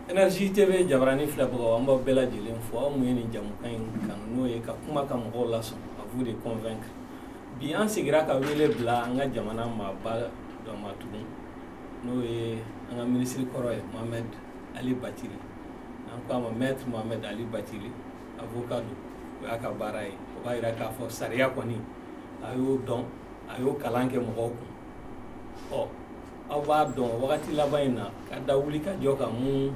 Energie TV jabarani filɛbagaw an b'aw bɛɛ lajɛlen fo aw mun ye nin jamukan in kanu n'o ye ka kuma ka mɔgɔw lasɔn à vous de convaincre bi an segira ka wele bila an ka jamana maaba dɔ ma tugun n'o ye an ka minisiri kɔrɔ ye Mohamed Ali Bathily n'an ko a ma maître Mohamed Ali Bathily avocat don o y'a ka baara ye o b'a jira k'a fɔ sariya kɔni a y'o dɔn a y'o kalan kɛ mɔgɔw kun ɔ aw b'a dɔn wagati laban in na ka da wulikajɔ kan mun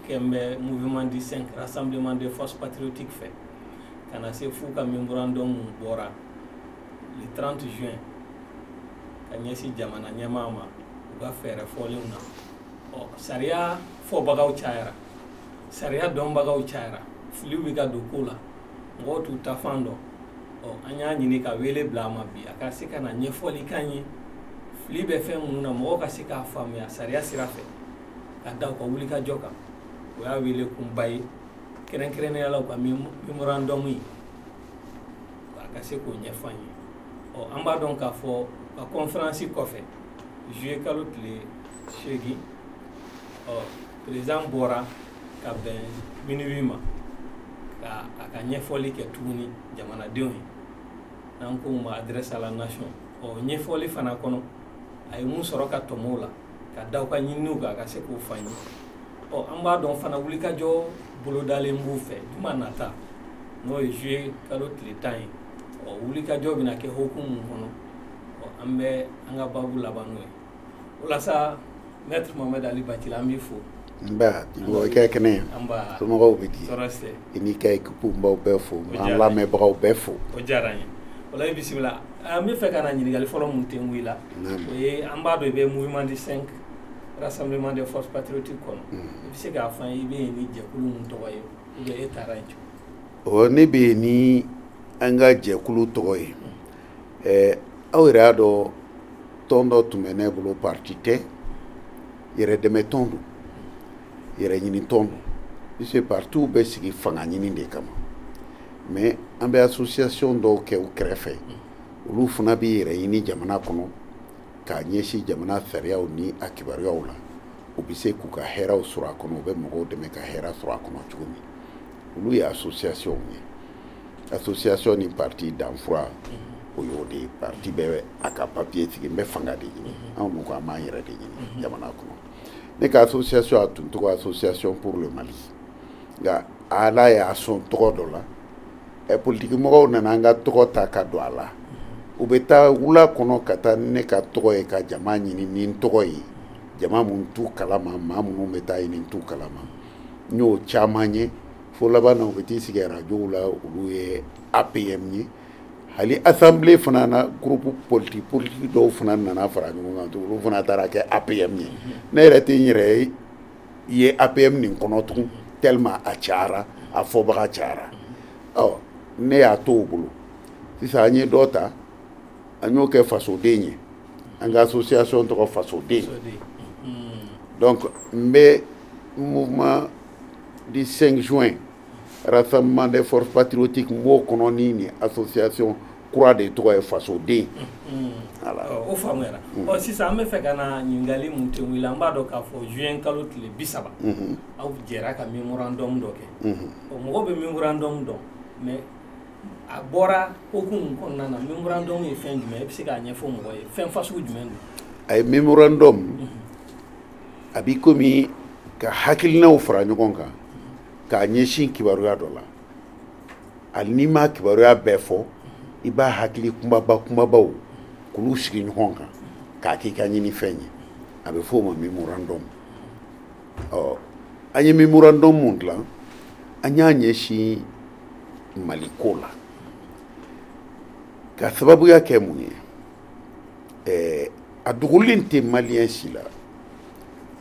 kɛlen bɛ mouvement du cinq rassemblement des forces patriotiques fɛ ka na se f'u ka memorandum mun bɔra le 30 juin ka ɲɛsin jamana ɲɛmaa ma u ka fɛɛrɛ fɔlenw na ɔ sariya fɔbagaw cayara sariya dɔnbagaw cayara filiw bɛ ka don ko la mɔgɔw t'u taafan dɔn ɔ an y'a ɲini ka wele bila a ma bi a ka se ka na ɲɛfɔli k'an ye fili bɛ fɛn minnu na mɔgɔw ka se k'a faamuya sariya sira fɛ ka da u ka wulikajɔ kan o y'a wele kunba ye kɛrɛnkɛrɛnnenya la u ka memorandum ye a ka se k'o ɲɛfɔ an ye ɔ an b'a dɔn k'a fɔ ka kɔnferansi kɔfɛ juye kalo tile seegin ɔ peresidan bɔra ka bɛn minuwi ma ka a ka ɲɛfɔli kɛ tuguni jamanadenw ye n'an ko ma adresse à la nation o ɲɛfɔli fana kɔnɔ a ye mun sɔrɔ ka tɔmɔ o la ka da u ka ɲininiw kan ka se k'o fɔ an ye ɔ an b'a dɔn fana wulikajɔ bolodalen b'u fɛ juma nata n'o ye juye kalo tile tan ye o wulikajɔ bɛna kɛ hokumu kɔnɔ ɔ an bɛ an ka babu laban n'o ye walasa Maître Mohamed Ali Bathily an b'i fo. Nba i bɔ i ka kɛnɛ ye. Nba. Somɔgɔw bɛ di. Tɔɔrɔ si tɛ. I n'i ka équipe n b'aw bɛɛ fo. N b'an lamɛnbagaw bɛɛ fo. O diyara n ye. O la i bisimila. An b'a fɛ ka na ɲininkali fɔlɔ min tengu i la. Naamu. O ye an b'a dɔn i bɛ mouvement du 5 rassemblement des forces patriotiques kɔnɔ. Unhun. I bɛ se k'a fɔ an ye i bɛ yen ni jɛkulu min tɔgɔ ye ou bien e taara yen cogo di? Ɔ ne bɛ yen ni an ka jɛkulu tɔgɔ ye. ɛɛ aw yɛrɛ y'a dɔn tɔn dɔ tun bɛ ne bolo parti tɛ yɛrɛdɛmɛ tɔn don yɛrɛɲini tɔn don puisque partiw bɛ sigi fanga ɲini de kama mais an bɛ association dɔw kɛ u kɛrɛfɛ olu fana b'i yɛrɛ ɲini jamana kɔnɔ k'a ɲɛsin jamana sariyaw ni a kibaruyaw la u bɛ se k'u ka hɛrɛw sɔrɔ a kɔnɔ u bɛ mɔgɔw dɛmɛ ka hɛrɛ sɔrɔ a kɔnɔ cogo min olu ye associationw ye association ni parti danfura o y'o de ye parti bɛ a ka papiye sigi n bɛ fanga de ɲini anw dun ko an b'an yɛrɛ de ɲini jamana kɔnɔ ne ka association a tun tɔgɔ association pour le mali nka ala y'a sɔn tɔgɔ dɔ la ɛ politiki mɔgɔw nana an ka tɔgɔ ta ka don a la u bɛ taa wula kɔnɔ ka taa ne ka tɔgɔ ye ka jama ɲini ni n tɔgɔ ye jama minnu t'u kalama maa minnu bɛ taa ɲini n t'u kalama n y'o caman ye fo laban na u bɛ t'i sigi arajow la olu ye apm ye hali assemblée fana na groupe politique politique dɔw fana nana fara ɲɔgɔn kan tugun olu fana taara kɛ apm ye ne yɛrɛ tɛ n yɛrɛ ye apm nin kɔnɔ tugun tellement a cayara a fɔbaga cayara ɔ ne y'a to o bolo sisan an ye dɔ ta an y'o kɛ fasoden ye an ka association tɔgɔ fasoden donc n bɛ mouvement du 5 juin rassemblement des forces patriotiques n b'o kɔnɔ ni nin association kura de tɔgɔ ye fasoden o faamuyara ɔ sisan an b'a fɛ ka na ɲininkali mun kɛ i la an b'a dɔn k'a fɔ juin kalo tile bi saba aw jɛra ka memorandum dɔ kɛ ɔ mɔgɔw bɛ memorandum dɔn mais a bɔra hokumu kɔnɔna na memorandum ye fɛn jumɛn ye i bɛ se k'a ɲɛfɔ mɔgɔ ye fɛn fasugu jumɛn don a ye memorandum a b'i komi ka hakilinaw fara ɲɔgɔn kan k'a ɲɛsin kibaruya dɔ la hali n'i ma kibaruya bɛɛ fɔ i b'a hakili kunbaba kunbabaw k'olu sigi ɲɔgɔn kan k'a k'i ka ɲinifɛn ye a bɛ f'o ma memorandum ɔ an ye memorandum mun dilan an y'a ɲɛsin mali ko la k'a sababuya kɛ mun ye ɛɛ a dogolen tɛ maliyɛn si la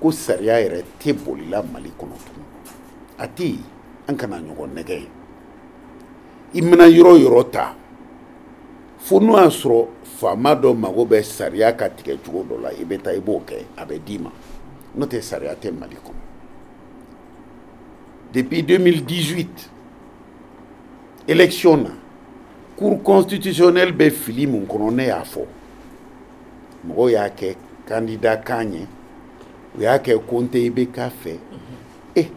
ko sariya yɛrɛ tɛ bolila mali kɔnɔ tugun a tɛ an kana ɲɔgɔn nɛgɛn i mana yɔrɔ yɔrɔ ta fo n'o y'a sɔrɔ faama dɔ mago bɛ sariya ka tigɛ cogo dɔ la i bɛ taa i b'o kɛ a bɛ d'i ma n'o tɛ sariya tɛ mali kɔnɔ depuis 2018 élection na cour constitutionnelle bɛ fili mun kɔnɔ ne y'a fɔ mɔgɔw y'a kɛ kandida kan ye u y'a kɛ ko n tɛ ibk fɛ e eh,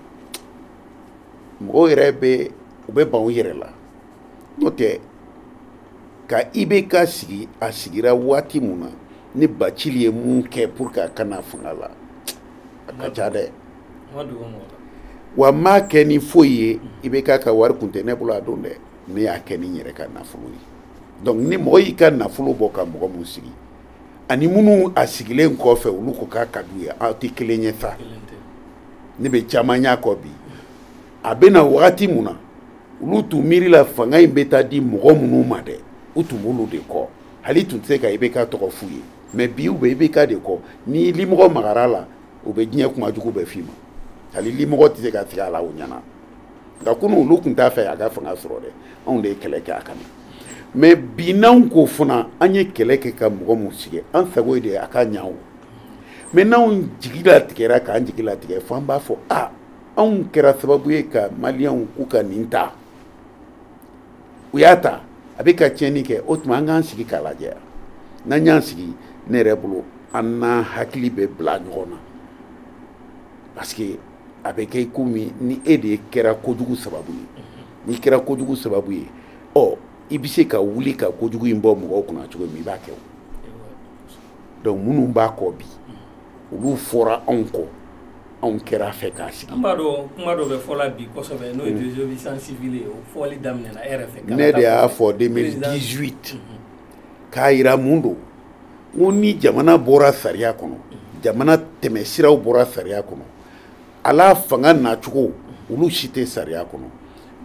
mɔgɔw yɛrɛ bɛ u bɛ ban u yɛrɛ la n'o tɛ ka ibk sigi a sigira waati mun na ne bacili ye mun kɛ pour que a ka na fanga la a ka ca dɛ wa n m'a kɛ ni foyi ye IBK ka wari kun tɛ ne bolo a don dɛ ne y'a kɛ ni n yɛrɛ ka nafolo ye donc ni mɔgɔ y'i ka nafolo bɔ ka mɔgɔ min sigi ani minnu a sigilen kɔfɛ olu ko k'a ka d'u ye aw tɛ kelen ye sa ne bɛ caman y'a kɔ bi a bɛ na wagati mun na olu tun miirila fanga in bɛ taa di mɔgɔ minnu ma dɛ u tun b'olu de kɔ hali tun tɛ se ka IBK tɔgɔ f'u ye mais bi u bɛ IBK de kɔ ni limɔgɔ magar'a la u bɛ diɲɛ kuma jugu bɛɛ f'i ma hali limɔgɔ tɛ se ka sigi a la o ɲɛna nka kunu olu tun t'a fɛ a ka fanga sɔrɔ dɛ anw de ye kɛlɛ kɛ a kama mais bi n'anw ko fana an ye kɛlɛ kɛ ka mɔgɔ min sigi an sago ye de a ka ɲa o mais n'anw jigi latigɛra k'an jigi latigɛ fo an b'a fɔ a anw kɛra sababu ye ka maliyɛnw k'u ka nin ta u y'a ta a bɛ ka tiɲɛni kɛ o tuma an k'an sigi k'a lajɛ n'an y'an sigi ne yɛrɛ bolo an n'an hakili bɛ bila ɲɔgɔn na parce que a bɛ kɛ komi ni e de kɛra kojugu sababu ye n'i kɛra kojugu sababu ye ɔ i bɛ se ka wuli ka kojugu in bɔ mɔgɔw kunna cogo min i b'a kɛ o donc minnu b'a kɔ bi olu fɔra anw kɔ anw kɛr'a fɛ k'a sigi an b'a dɔn kuma dɔ bɛ fɔ la bi kosɛbɛ n'o ye mm. désobéissance civile ye o fɔli daminɛna e yɛrɛ fɛ ne de y'a fɔ 2018 mm-hmm. k'a yira mun don n ko ni jamana bɔra sariya kɔnɔ mm-hmm. jamana tɛmɛsiraw bɔra sariya kɔnɔ wala fanga nacogo olu si tɛ sariya kɔnɔ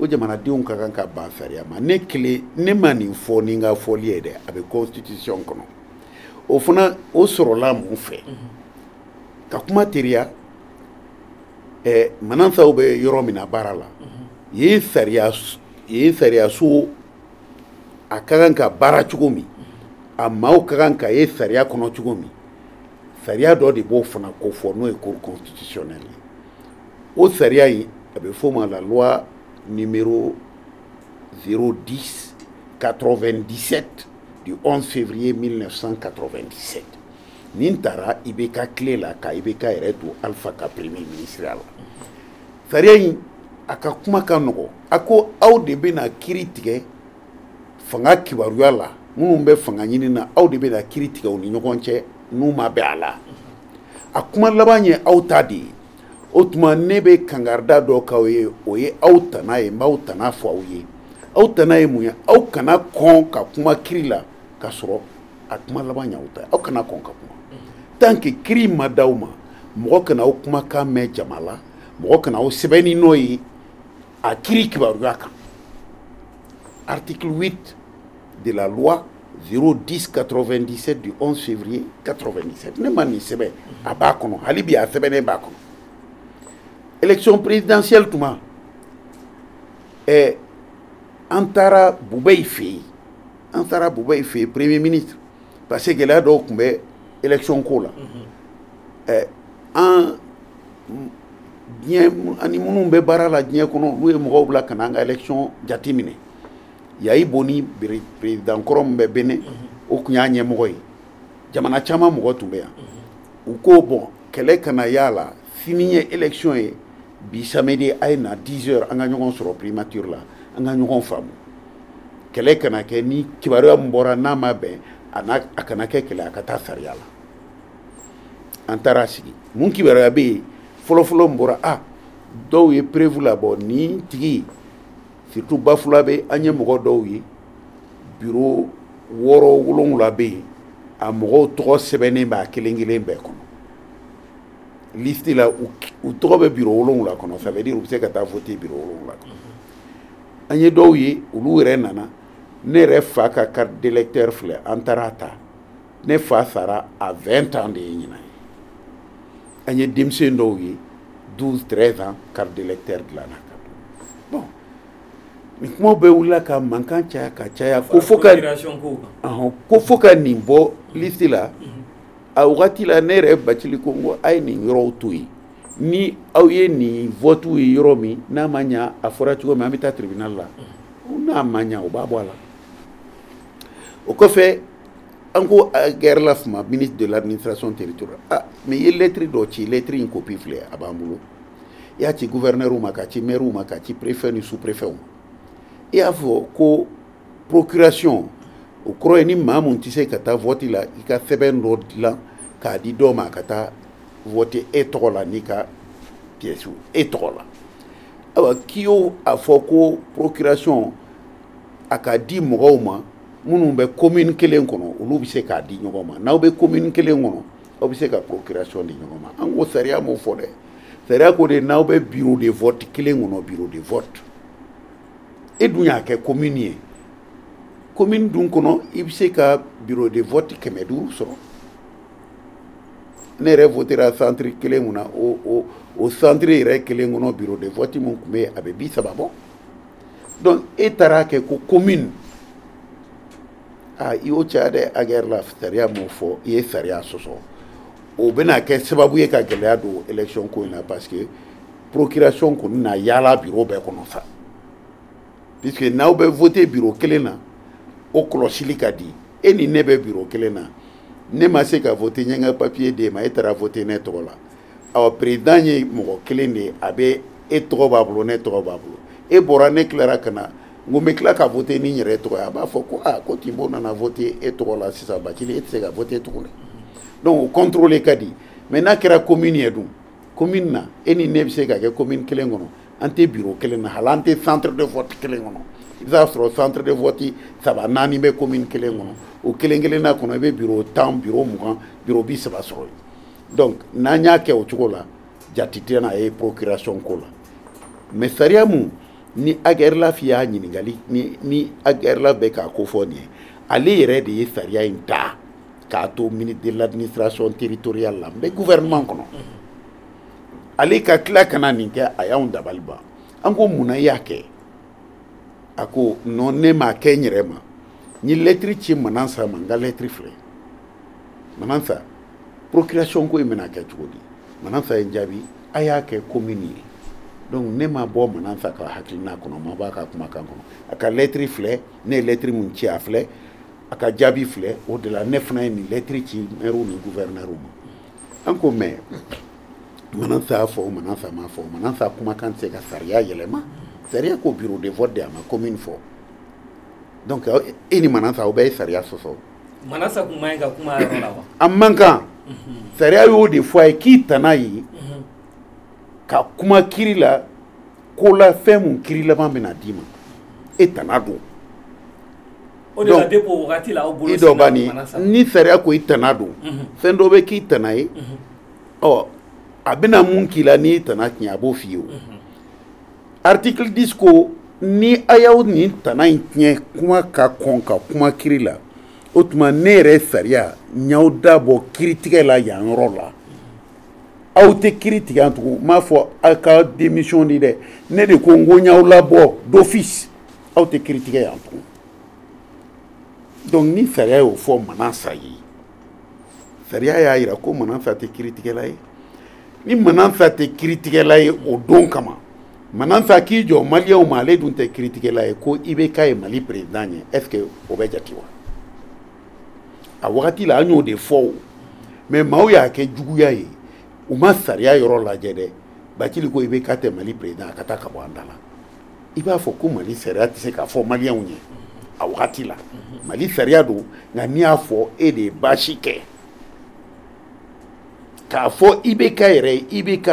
o jamanadenw ka kan ka ban sariya ma ne kelen ne ma nin fɔ ni n ka fɔli ye dɛ a bɛ constitution kɔnɔ o fana o sɔrɔla mun fɛ ka kuma teriya eh, manasaw bɛ yɔrɔ min na baara la yen sariya yen sariyaso a ka kan ka baara cogo min a maaw ka kan ka ye sariya kɔnɔ cogo min sariya dɔ de b'o fana kofɔ n'o ye cour constitutionnelle ye o sariya in a bɛ f'o ma la loi numéro 010 97 du 11 février 1997 nin tara IBK tile la ka IBK yɛrɛ to alpha ka premier ministreya la sariya in a ka kuma ka nɔgɔ a ko aw de bɛna kiri tigɛ fanga kibaruya la minnu bɛ fanga ɲini na aw de bɛna kiri tigɛ u ni ɲɔgɔn cɛ n'u ma bɛn a la a kuma laban ye aw ta de ye o tuma ne bɛ kankarida dɔ k'aw ye o ye aw tana ye n b'aw tana fɔ aw ye aw tana ye mun ye aw kana kɔn ka kuma kiri la ka sɔrɔ a kuma laban y'aw ta ye aw kana kɔn ka kuma tant que kiri ma d'aw ma mɔgɔ kana aw kumakan mɛn jama la mɔgɔ kana aw sɛbɛnni nɔ ye a kiri kibaruya kan article 8 de la loi 010 97 du 11 février 97 ne ma nin sɛbɛn a b'a kɔnɔ hali bi a sɛbɛnnen b'a kɔnɔ élection présidentielle tuma eh, an taara bubɛyi fɛ yen an taara bubɛyi fɛ yen premier ministre parce que gɛlɛya dɔw tun bɛ élection ko la eh, an diɲɛ ani minnu bɛ baara la diɲɛ kɔnɔ n'u ye mɔgɔw bila ka na an ka élection jateminɛ yayi boni président kɔrɔ min bɛ Bénin o tun y'a ɲɛmɔgɔ ye jamana caman mɔgɔ tun bɛ yan u ko bon kɛlɛ kana y'a la sini ye élection ye bi samedi a ye na 10 heures an ka ɲɔgɔn sɔrɔ primature la an ka ɲɔgɔn faamu kɛlɛ kana kɛ ni kibaruya min bɔra n'a ma bɛn a n'a a kana kɛ kɛlɛ a ka taa sariya la an taara sigi mun kibaruya bɛ yen fɔlɔfɔlɔ min bɔra a dɔw ye preuve labɔ nin tigi surtout bafulabɛ an ye mɔgɔ dɔw ye biro wɔɔrɔ wolonwula bɛ yen a mɔgɔw tɔgɔ sɛbɛnnen b'a kelen kelen bɛɛ kɔnɔ liste la u tɔgɔ bɛ biro wolonwula kɔnɔ ça veut dire u bɛ se ka taa voter biro wolonwula kɔnɔ an ye dɔw ye olu yɛrɛ nana ne yɛrɛ fa ka carte d'électeur filɛ an taara a ta ne fa sara a 20 ans de ye ɲinan ye an ye denmisɛn dɔw ye 12 13 ans carte d'électeur dilanna ka bon nin kumaw bɛɛ wulila ka mankan caya ka caya ko fo ka nin bɔ liste la a wagati la ne yɛrɛ bacili ko n ko a ye nin yɔrɔw to yen ni aw ye nin votuw ye yɔrɔ min n'a ma ɲa a fɔra cogo min an bɛ taa tribunal la n'a ma ɲa o b'a bɔ a la o kɔfɛ an ko Ag Erlaf ma ministre de l'administration territoriale ah mais i ye lettre dɔ ci lettre in copie filɛ a b'an bolo i y'a ci gouverneur ma k'a ci maire ma k'a ci préfet ni sous préfet ma i y'a fɔ ko procuration o kɔrɔ ye ni maa mun tɛ se ka taa vote la i ka sɛbɛn dɔ dilan k'a di dɔ ma a ka taa vote e tɔgɔ la n'i ka pièce e tɔgɔ la awa k'i y'o a fɔ ko procuration a ka di mɔgɔw ma minnu bɛ commune kelen kɔnɔ olu bɛ se k'a di ɲɔgɔn ma n'aw bɛ commune kelen kɔnɔ aw bɛ se ka procuration di ɲɔgɔn ma an ko sariya m'o fɔ dɛ sariya ko de n'aw bɛ bureau de vote kelen kɔnɔ bureau de vote e dun y'a kɛ commune ye commune dun kɔnɔ i bɛ se ka bureau de vote kɛmɛ duuru sɔrɔ ne yɛrɛ votera centre kelen mun na o o o centre yɛrɛ kelen kɔnɔ bureau de vote min tun bɛ yen a bɛ bi saba bɔ. donc e taara kɛ ko commune a i y'o caya dɛ ag erlaf sariya m'o fɔ i ye sariya sɔsɔ o bɛna kɛ sababu ye ka gɛlɛya don élection ko in na parce que procuration kɔni na yaala biro bɛɛ kɔnɔ sa puisque n'aw bɛ vote biro kelen na o kɔlɔsili ka di e ni ne bɛ biro kelen na ne ma se ka vote n ye n ka papiye d'e ma e taara vote ne tɔgɔ la awa président ye mɔgɔ kelen de ye a bɛ e tɔgɔ b'a bolo ne tɔgɔ b'a bolo e bɔra ne tilara ka na n ko n bɛ tila ka vote ni n yɛrɛ tɔgɔ ye a b'a fɔ ko aa ko tinbo nana vote e tɔgɔ la sisan bacili e tɛ se ka vote tuguni donc o contrôle ka di mais n'a kɛra commune ye dun commune na e ni ne bɛ se ka kɛ commune kelen kɔnɔ an tɛ bureau kelen na hali an tɛ centre de vote kelen kɔnɔ i bɛ taa sɔrɔ centre de vote saba naani bɛ commune kelen kɔnɔ o kelen kelenna kɔnɔ i bɛ bureau tan bureau mugan bureau bi saba sɔrɔ yen donc n'an y'a kɛ o cogo la jate tɛna ye procuration ko la mais sariya mun ni ag erlaf y'a ɲininkali ni ag erlaf bɛ k'a ko fɔ nin ye ale yɛrɛ de ye sariya in ta k'a to ministre de l'administration territoriale la n bɛ gouvernement kɔnɔ ale ka tila ka na nin kɛ a y'anw dabali ban an ko mun na i y'a kɛ a ko non ne m'a kɛ n yɛrɛ ma n ye lɛtiri ci manansa ma n ka lɛtiri filɛ manansa procuration ko in bɛna kɛ cogo di manansa ye n jaabi a y'a kɛ commune ye donc ne ma bɔ manansa ka hakilina kɔnɔ ma b'a ka kumakan kɔnɔ a ka lɛtiri filɛ ne ye lɛtiri min ci a filɛ a ka jaabi filɛ o de la ne fana ye nin lɛtiri ci mɛriw ni guvɛrinɛriw ma an ko mais manansa y'a fɔ manansa m'a fɔ manansa kumakan tɛ se ka sariya yɛlɛma sariya ko bureau de vote de a ma commune fɔ donc e ni manansa aw bɛɛ ye sariya sɔsɔ a man kan sariya y'o de fɔ a ye k'i tana ye ka kuma kiri la ko la fɛn mun kiri laban bɛna d'i ma e tana don i dɔ b'a ni ni sariya ko i tana don fɛn dɔ bɛ k'i tana ye ɔ a bɛna mun k'i la n'i tana tiɲɛ a b'o f'i ye o article 10 ko ni a y'aw nin tana in tiɲɛ kuma ka kɔn ka kuma kiri la o tuma ne yɛrɛ sariya n y'aw dabɔ kiritigɛlaya yɔrɔ la aw tɛ kiri tigɛ yan tugun n m'a fɔ aw ka démission di dɛ ne de ko n ko n y'aw labɔ d'office aw tɛ kiri tigɛ yan tugun donc ni sariya y'o fɔ manansa ye sariya y'a jira ko manansa tɛ kiritigɛla ye ni manansa tɛ kiritigɛla ye o don kama manansa k'i jɔ maliyɛnw ma ale dun tɛ kiritigɛla ye ko ibk ye mali perezidan ye est ce que o bɛ jate wa a wagati la an y'o de fɔ o mais maaw y'a kɛ juguya ye u ma sariya yɔrɔ lajɛ dɛ bacili ko ibk tɛ mali perezidan a ka taa ka bɔ an da la i b'a fɔ ko mali sariya tɛ se k'a fɔ maliyɛnw ye a wagati la mali sariya don nka n'i y'a fɔ e de ye baasi kɛ k'a fɔ IBK yɛrɛ ye IBK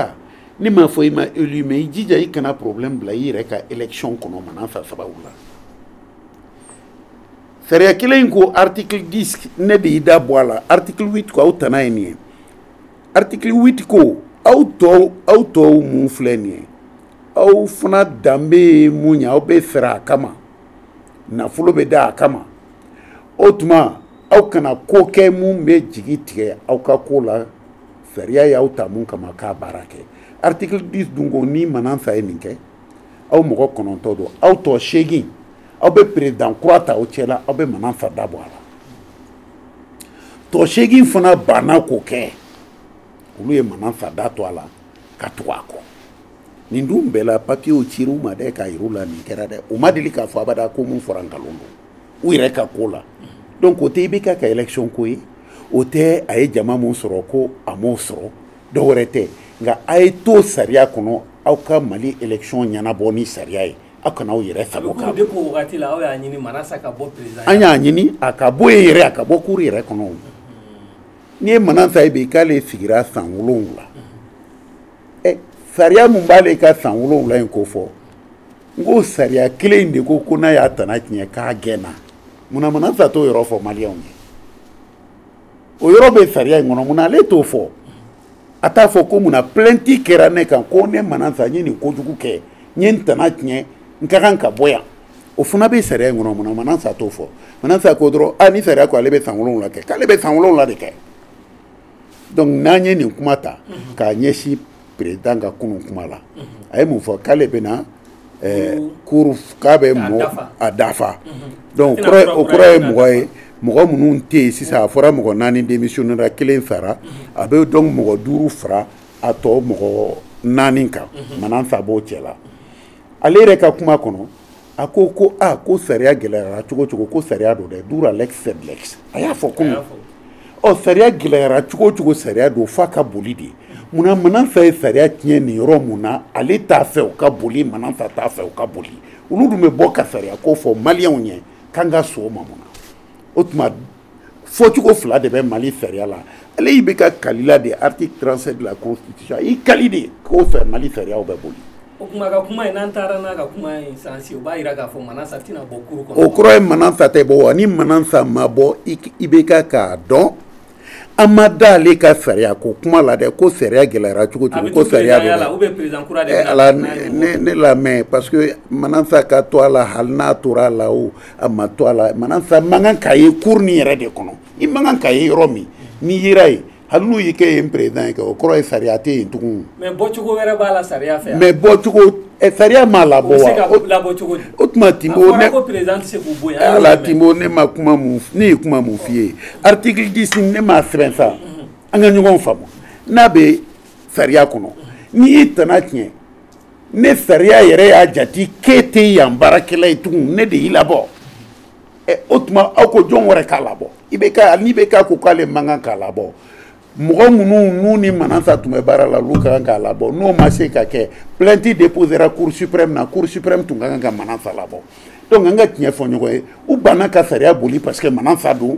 ne m'a fɔ i ma élu mais i jija i kana problème bila i yɛrɛ ka élection kɔnɔ manasa sababu la sariya kelen in ko article 10 ne b'i da bɔ a la article 8 ko aw tana ye nin ye article 8 ko aw tɔw aw tɔw mun filɛ nin ye aw fana danbe ye mun ye aw bɛ fɛɛrɛ a kama nafolo bɛ da a kama o tuma aw kana ko kɛ mun bɛ jigi tigɛ aw ka ko la sariya y'aw ta mun kama k'a baara kɛ article 10 dun ko ni manasa ye nin kɛ aw mɔgɔ kɔnɔntɔn don aw tɔ seegin aw bɛ perezidan kura ta aw cɛla aw bɛ manasa da bɔ a la tɔ seegin fana banna k'o kɛ olu ye manasa da to a la ka tugu a kɔ nin dun bɛɛ la papiyew cir'u ma dɛ k'a yir'u la nin kɛra dɛ u ma deli k'a fɔ abada ko mun fɔra nkalon don u yɛrɛ ka ko la donc o tɛ IBK ka élection ko ye o tɛ a ye jama mun sɔrɔ ko a m'o sɔrɔ dɔ wɛrɛ tɛ nka a ye to sariya kɔnɔ aw ka mali élection ɲɛnabɔ ni sariya ye aw kana aw yɛrɛ sago kɛ an y'a ɲini a ka bɔ yen yɛrɛ a ka bɔ cour yɛrɛ kɔnɔ n'i ye manasa ye bi k'ale sigira san wolonwula ɛ sariya min b'ale ka san wolonwula in ko fɔ n ko sariya kelen in de ko ko n'a y'a tana tiɲɛ k'a gɛnna munna manasa t'o yɔrɔ fɔ maliyɛnw ye o yɔrɔ bɛ sariya in kɔnɔ munna ale t'o fɔ a t'a fɔ ko munna plainte kɛra ne kan ko ne manasa n ye nin kojugu kɛ n ye n tana tiɲɛ n ka kan ka bɔ yan o fana bɛ sariya in kɔnɔ munna manasa t'o fɔ manasa ko dɔrɔn a ni sariya ko ale bɛ san wolonwula kɛ k'ale bɛ san wolonwula de kɛ donc n'an ye nin kuma ta mhm. k'a ɲɛsin perezidan ka kunun kuma la mhm. a ye mun fɔ k'ale bɛna eh, cour k'a bɛ mɔgɔ a dafa mhm. donc o kɔrɔ ye mɔgɔ ye mɔgɔ minnu tɛ yen sisan a fɔra mɔgɔ naani démissionnera kelen sara a bɛ donc mɔgɔ duuru fara a tɔ mɔgɔ naani kan manasa b'o cɛ la ale yɛrɛ ka kuma kɔnɔ a ko ko a ko sariya gɛlɛyara cogo cogo ko sariya don dɛ dura lex sed lex a y'a fɔ kunun sariya gɛlɛyara cogo cogo sariya don f'a ka boli de munna manasa ye sariya tiɲɛ nin yɔrɔ mun na ale t'a fɛ o ka boli manasa t'a fɛ o ka boli olu dun bɛ bɔ ka sariya ko fɔ maliyɛnw ye k'an ka sɔn o ma mun na o tuma fɔcogo fila de bɛ mali sariya la ale ibk kalila de article 37 de la constitution i kali de k'o fɛ mali sariyaw bɛ boli o kuma ka kuma in n'an taara n'a ka kuma in sens o b'a jira k'a fɔ manasa tɛna bɔ cour kɔnɔ o kɔrɔ ye manasa tɛ bɔ wa ni manasa ma bɔ ibk k'a dɔn an ma da ale ka sariya ko kuma la dɛ ko sariya gɛlɛyara cogo cogo ko sariya bɛ ala ne lamɛn parce que manasa ka to a la hali n'a tora a la o a ma to a la manasa man kan ka ye cour nin yɛrɛ de kɔnɔ i man kan ka ye yɔrɔ min n'i yera yen hali n'u y'i kɛ yen président ye kɛ o kɔrɔ ye sariya tɛ yen tugun mais bɔcogo wɛrɛ b'a la sariya fɛ mais bɔcogo eh, sariya m'a labɔ wa o bɛ se ka labɔ cogo di o tuma timbo ne a fɔra ko président tɛ se k'u bɔ yen ala timbo ne ma kuma mun ne ye kuma mun f'i ye article 10 ne m'a sɛbɛn sa an ka ɲɔgɔn faamu n'a bɛ sariya kɔnɔ n'i y'i tana tiɲɛ ne sariya yɛrɛ y'a jati k'e tɛ yan baarakɛla ye tugun ne de y'i labɔ ɛ o tuma aw ko jɔn wɛrɛ k'a labɔ ibk ni ibk ko k'ale man kan k'a labɔ mɔgɔ minnu n'u ni manasa tun bɛ baara la olu ka kan k'a labɔ n'o ma se ka kɛ plainte déposera cour suprême na cour suprême tun ka kan ka manasa labɔ donc an ka tiɲɛ fɔ ɲɔgɔn ye u banna ka sariya boli parce que manasa don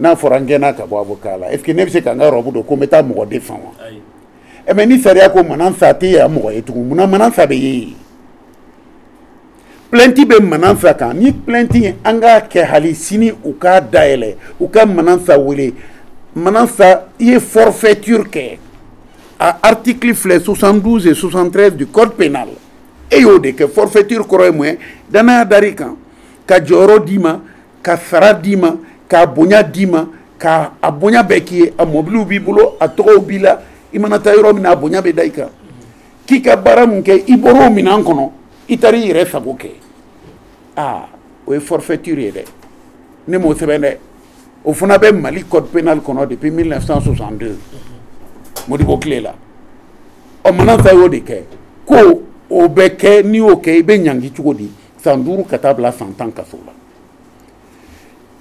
n'a fɔra n gɛnna ka bɔ avocat la est ce que ne bɛ se ka n ka robe don ko n bɛ taa mɔgɔ défend wa ɛ mais ni sariya ko manasa tɛ yan mɔgɔ ye tugun munna manasa bɛ ye yen plainte bɛ manasa kan ni plainte ye an k'a kɛ hali sini u k'a dayɛlɛ u ka manasa wele manasa i ye forfaiture kɛ a article filɛ 72 et 73 du code pénal e y'o de kɛ forfaiture kɔrɔ ye mun ye danaya dar'i kan ka jɔyɔrɔ d'i ma ka sara d'i ma k'a bonya d'i ma ka a bonya bɛɛ k'i ye a mɔbiliw b'i bolo a tɔgɔw b'i la i mana taa yɔrɔ min na a bonya bɛ da i kan k'i ka baara min kɛ i bɔr'o minɛn kɔnɔ i taara i yɛrɛ sago kɛ aa o ye forfaiture ye dɛ ne m'o sɛbɛn dɛ o fana bɛ mali code pénal kɔnɔ depuis 1962 modibo tile la ɔ manasa y'o de kɛ ko o bɛ kɛ n'i y'o kɛ i bɛ ɲangi cogo di san duuru ka taa bila san tan kaso la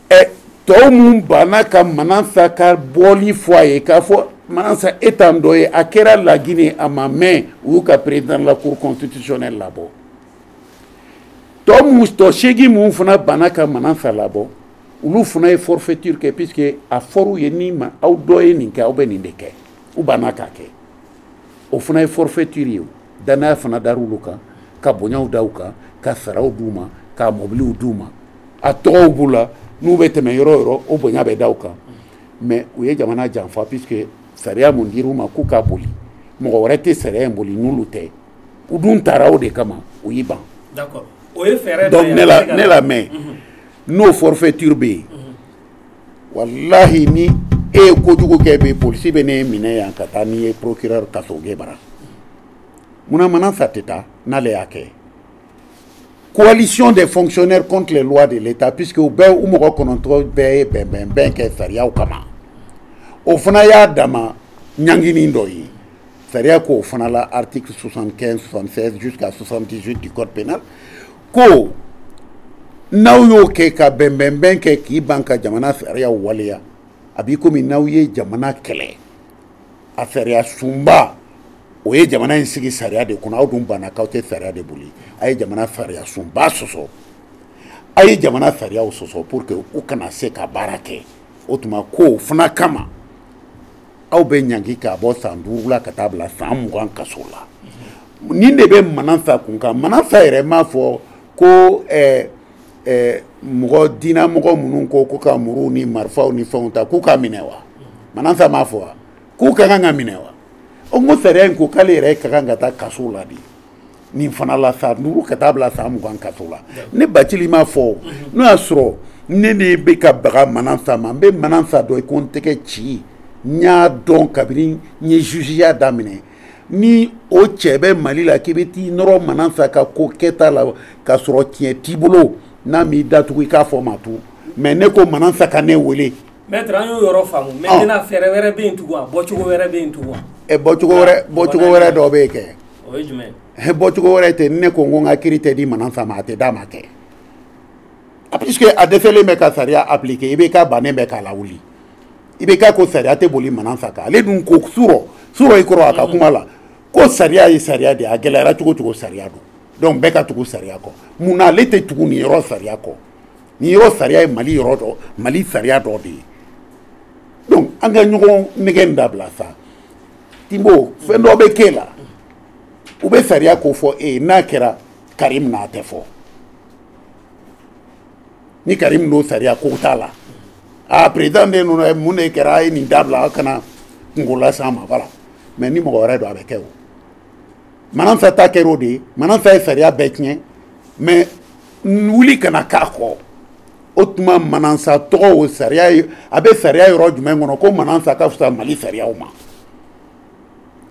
ɛ tɔw minnu banna ka manasa ka bɔli fɔ a ye k'a fɔ manasa e t'an dɔ ye a kɛra lagine a ma mɛn u y'u ka président de la cour constitutionnelle labɔ tɔ minnu tɔ seegin minnu fana banna ka manasa labɔ olu fana ye forfaiture kɛ puisque a fɔr'u ye ni ma aw dɔ ye nin kɛ aw bɛ nin de kɛ u banna k'a kɛ o fana ye forfaiture ye danaya fana dar'olu kan ka bonyaw da u kan ka saraw d'u ma ka mɔbiliw d'u ma a tɔgɔw b'u la n'u bɛ tɛmɛ yɔrɔ yɔrɔ o bonya bɛ da u kan mais u ye jamana janfa puisque sariya mun dir'u ma k'u ka boli mɔgɔ wɛrɛ tɛ sariya in boli n'olu tɛ u dun taara o de kama u y'i ban donc ne la ne lamɛn n'o forfaiture bɛ yen walahi ni e ye kojugu kɛ bi polisi bɛ n'e minɛ yan ka taa n'i ye procureur kasoge bara munna manansa tɛ taa n'ale y'a kɛ coalition des fonctionnaires contre les lois de l'état puisque u bɛɛ u mɔgɔ kɔnɔntɔn bɛɛ ye bɛnbɛnbɛn kɛ sariyaw kama o fana y'a dama ɲangini dɔ ye sariya k'o fana la article 75 76 jusqu'à 78 du code pénal ko n'aw y'o kɛ ka bɛnbɛnbɛn kɛ k'i ban ka jamana sariyaw waleya a b'i komi n'aw ye jamana kɛlɛ a sariya sunba o ye jamana in sigi sariya de kɔnɔ aw dun banna k'aw tɛ sariya de boli a ye jamana sariya sunba sɔsɔ a ye jamana sariyaw sɔsɔ pour que u kana se ka baara kɛ o tuma k'o fana kama aw bɛ ɲangi k'a bɔ san duuru la ka taa bila san mugan kaso la nin de bɛ manansa kun kan manansa yɛrɛ m'a fɔ ko eh, eh, mɔgɔ diinamɔgɔ minnu ko ko ka muruw ni marifaw ni fɛnw ta k'u ka minɛ wa manansa m'a fɔ wa k'u ka kan ka minɛ wa o n ko sariya in ko k'ale yɛrɛ ka kan ka taa kaso la de nin fana la san duuru ka taa bila san mugan kaso la ne bacili m'a fɔ o n'o y'a sɔrɔ ne de bɛ ka baga manansa ma n bɛ manansa dɔn i ko n tɛgɛci n y'a dɔn kabini n ye jugeya daminɛ ni o cɛ bɛ mali la k'i bɛ t'i nɔrɔ manansa ka ko kɛta la ka sɔrɔ tiɲɛ t'i bolo n'a m'i datugu i k'a fɔ ma to mais ne ko manansa ka ne wele maître an y'o yɔrɔ faamu maintenant fɛɛrɛ wɛrɛ bɛ yen tugun wa bɔcogo wɛrɛ bɛ yen tugun wa bɔcogo wɛrɛ bɔcogo wɛrɛ dɔ bɛ yen kɛ o ye jumɛn ye bɔcogo wɛrɛ tɛ ne ko n ko n ka kiiri tɛ di manansa ma a tɛ d'a ma kɛ ah, puisque a dɛsɛlen bɛ ka sariya appliquer ibk bannen bɛ k'a lawuli ibk ko sariya tɛ boli manansa kan ale dun ko surɔ surɔ i kɔrɔ a ka kuma la ko sariya ye sariya de ye a gɛlɛyara cogo cogo sariya don donc bɛɛ ka tugu sariya kɔ mun na ale tɛ tugu nin yɔrɔ sariya kɔ nin yɔrɔ sariya ye mali yɔrɔ dɔ mali sariya dɔ de ye donc an ka ɲɔgɔn nɛgɛ in dabila sa tinbo fɛn dɔ bɛ k'e la u bɛ sariya ko fɔ e ye n'a kɛra karim na a tɛ fɔ ni karim don sariya ko t'a la a président den ninnu ye mun de kɛra a ye nin dabila a kana kunko las'a ma voilà mais ni mɔgɔ wɛrɛ don a bɛ kɛ o manansa ta kɛra o de ye manansa ye sariya bɛɛ tiɲɛ mais wuli kana k'a kɔ o tuma manansa tɔgɔ o sariya ye a bɛ sariya yɔrɔ jumɛn kɔnɔ ko manansa ka fisa mali sariyaw ma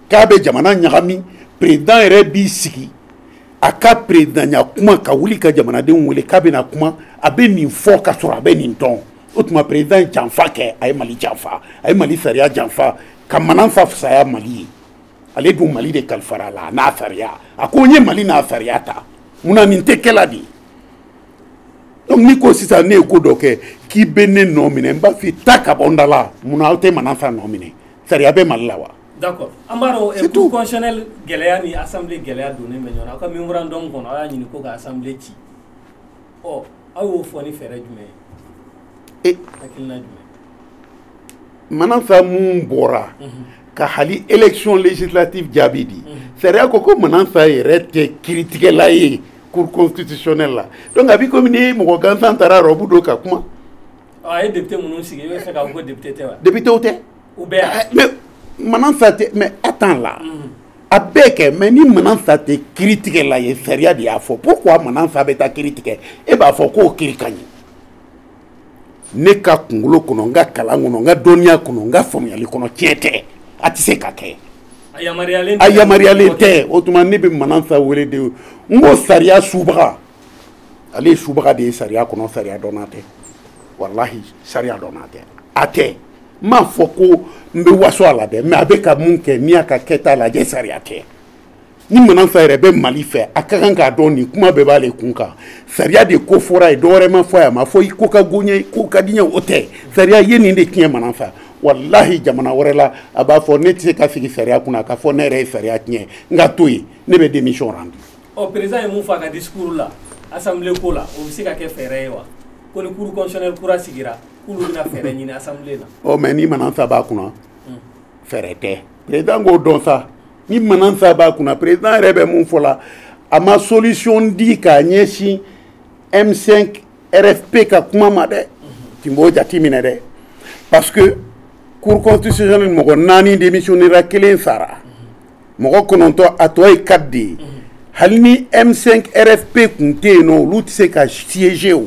k'a bɛ jamana ɲagami perezidan yɛrɛ b'i sigi a ka perezidanya kuma ka wuli ka jamanadenw wele k'a bɛna kuma a bɛ nin fɔ ka sɔrɔ a bɛ nin dɔn o tuma perezidan ye janfa kɛ a ye mali janfa a ye mali sariya janfa ka manansa fisaya mali ye ale dun mali de kalifara a la a n'a sariya a ko n ye mali n'a sariya ta mun na nin tɛ kɛla de donc n'i ko sisan ne ye ko dɔ kɛ k'i bɛ ne nɔ minɛ n b'a f'i ta ka bɔ n da la mun na aw tɛ manansa nɔ minɛ sariya bɛ mali la wa. d'accord an b'a dɔn eh, cour constitutionnelle gɛlɛya ni assemblée gɛlɛya donnen bɛ ɲɔgɔn na aw ka mémorandum kɔnɔ aw y'a ɲini ko ka assemblée ci ɔ aw y'o fɔ ni fɛɛrɛ jumɛn ye. hakilina jumɛn. manansa mun bɔra ka hali élection législative jaabi di sariya ko ko manansa yɛrɛ tɛ kiritigɛla ye cour constitutionnelle la donc a b'i komi ni mɔgɔ gansan taara rɔbu don ka kuma a ye député minnu sigi i b'a fɛ k'a fɔ ko député tɛ wa député tɛ u bɛɛ ah, mais manansa tɛ mais attends là a bɛɛ kɛ mais ni manansa tɛ kiritigɛla ye sariya de y'a fɔ pourquoi manansa bɛ taa kiri tigɛ e b'a fɔ k'o kiri ka ɲi ne ka kunkolo kɔnɔ n ka kalan kɔnɔ n ka dɔnniya kɔnɔ n ka faamuyali kɔnɔ tiɲɛ tɛ a tɛ se ka kɛ a yamaruyalen tɛ o tuma ne bɛ manansa wele de n ko sariya subaga ale ye subaga de ye sariya kɔnɔ sariya dɔnna tɛ walahi sariya dɔnna tɛ a tɛ n m'a fɔ ko n bɛ waso a la dɛ mais a bɛ ka mun kɛ n'i y'a ka kɛta lajɛ sariya tɛ ni manansa yɛrɛ bɛ mali fɛ a ka kan k'a dɔn nin kuma bɛɛ b'ale kun kan sariya de ko fɔra ye dɔwɛrɛ ma fɔ a ma fɔ i ko ka go n ye ko ka di n ye o tɛ sariya ye nin de tiɲɛ manansa walahi jamana wɛrɛ la a b'a fɔ ne tɛ se ka sigi sariya kunna k'a fɔ ne yɛrɛ ye sariya tiɲɛ n ka to yen ne bɛ démission rendu. ɔ président ye mun fɔ a ka discours la assemblée ko la o bɛ se ka kɛ fɛɛrɛ ye wa ko ni cour constitutionnelle kura sigira k'olu bɛna fɛɛrɛ ɲini assemblée la. ɔ mais ni manansa b'a kunna fɛɛrɛ tɛ président k'o dɔn sa. ni manansa b'a kunna président yɛrɛ bɛ mun fɔ la a ma solution di k'a ɲɛsin m5 rfp ka kuma ma dɛ tun b'o jati minɛ dɛ parce que cour constitutionnelle mɔgɔ naani démissionnera kelen sara mɔgɔ kɔnɔntɔ a tɔ ye quatre de ye hali ni m5 rfp kun tɛ yen nɔ olu tɛ se ka siéger o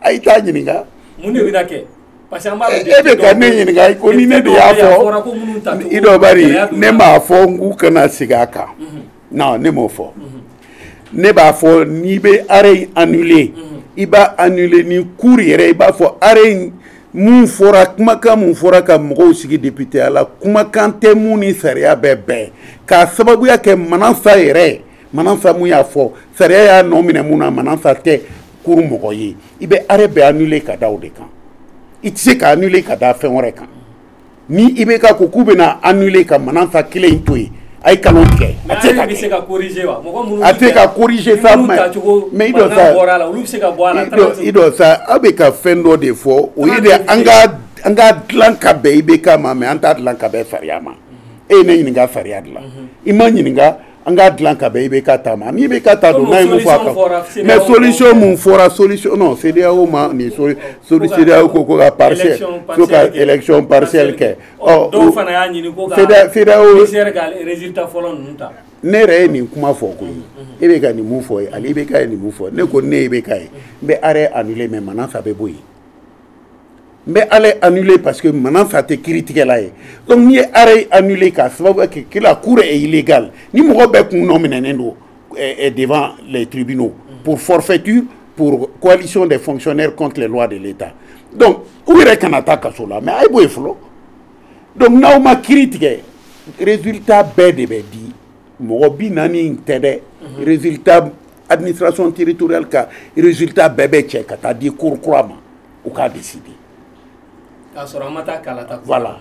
a t'a ɲininka mun de bɛna kɛ parce que an b'a dɔn e bɛ ka ne ɲininka i ko ni ne de y'a fɔ i dɔ bari ne m'a fɔ n k'u kana segin a kan mhm. non ne m'o fɔ mhm. ne b'a fɔ n'i bɛ arrêt in annuler mhm. i b'a annuler ni cour yɛrɛ i b'a fɔ arrêt in mun fɔra kumakan mun fɔra ka mɔgɔw sigi depiteya la kumakan tɛ mun ni sariya bɛ bɛn k'a sababuya kɛ manansa yɛrɛ manansa mun y'a fɔ sariya y'a nɔ minɛ mun na manansa tɛ cour mɔgɔ ye i bɛ arrêt bɛɛ annuler ka da o de kan i tɛ se ka annuler ka da fɛn wɛrɛ kan ni ibk ko k'u bɛna annuler ka manansa kelen in to yen a ye kalon tigɛ a tɛ ka kɛ a tɛ ka corriger sa mais mais i dɔ sa i dɔ sa aw bɛ ka fɛn dɔ de fɔ o ye de an ka an k'a dilan ka bɛn ibk ma mais an t'a dilan ka bɛn sariya ma e ye ne ɲininka sariya de la i ma ɲininka an k'a dilan ka bɛn i bɛ ka ta ma n'i bɛ ka ta don n'a ye mun fɔ a kan mais solution mun fɔra solution non CEDEAO ma nin soli CEDEAO ko ko ka partiel ko ka élection partielle kɛ ɔ dɔw fana y'a ɲini ko ka CEDEAO ka résultat fɔlɔ ninnu ta ne yɛrɛ ye nin kuma fɔ koyi e bɛ ka nin mun fɔ ye ale bɛ ka ye nin mun fɔ ne ko n'i bɛ ka ye n bɛ arrêt annuler mais manansa bɛ bɔ yen n bɛ arrêt annuler parce que manansa tɛ kiri tigɛla ye donc n'i ye arrêt annuler k'a sababu kɛ que la cour est illégale ni mɔgɔ bɛɛ kun nɔminɛnen don devant les tribunaux pour forfaiture pour coalition des fonctionnaires contre les lois de l'État donc u yɛrɛ kana taa kaso la mais a ye bɔ yen fɔlɔ donc n'aw ma kiri tigɛ résultat bɛɛ de bɛ di mɔgɔ bi naani in tɛ dɛ résultat administration territoriale ka résultat bɛɛ bɛ cɛ ka taa di cour kura ma u k'a décider k'a sɔrɔ an ma taa kalata voilà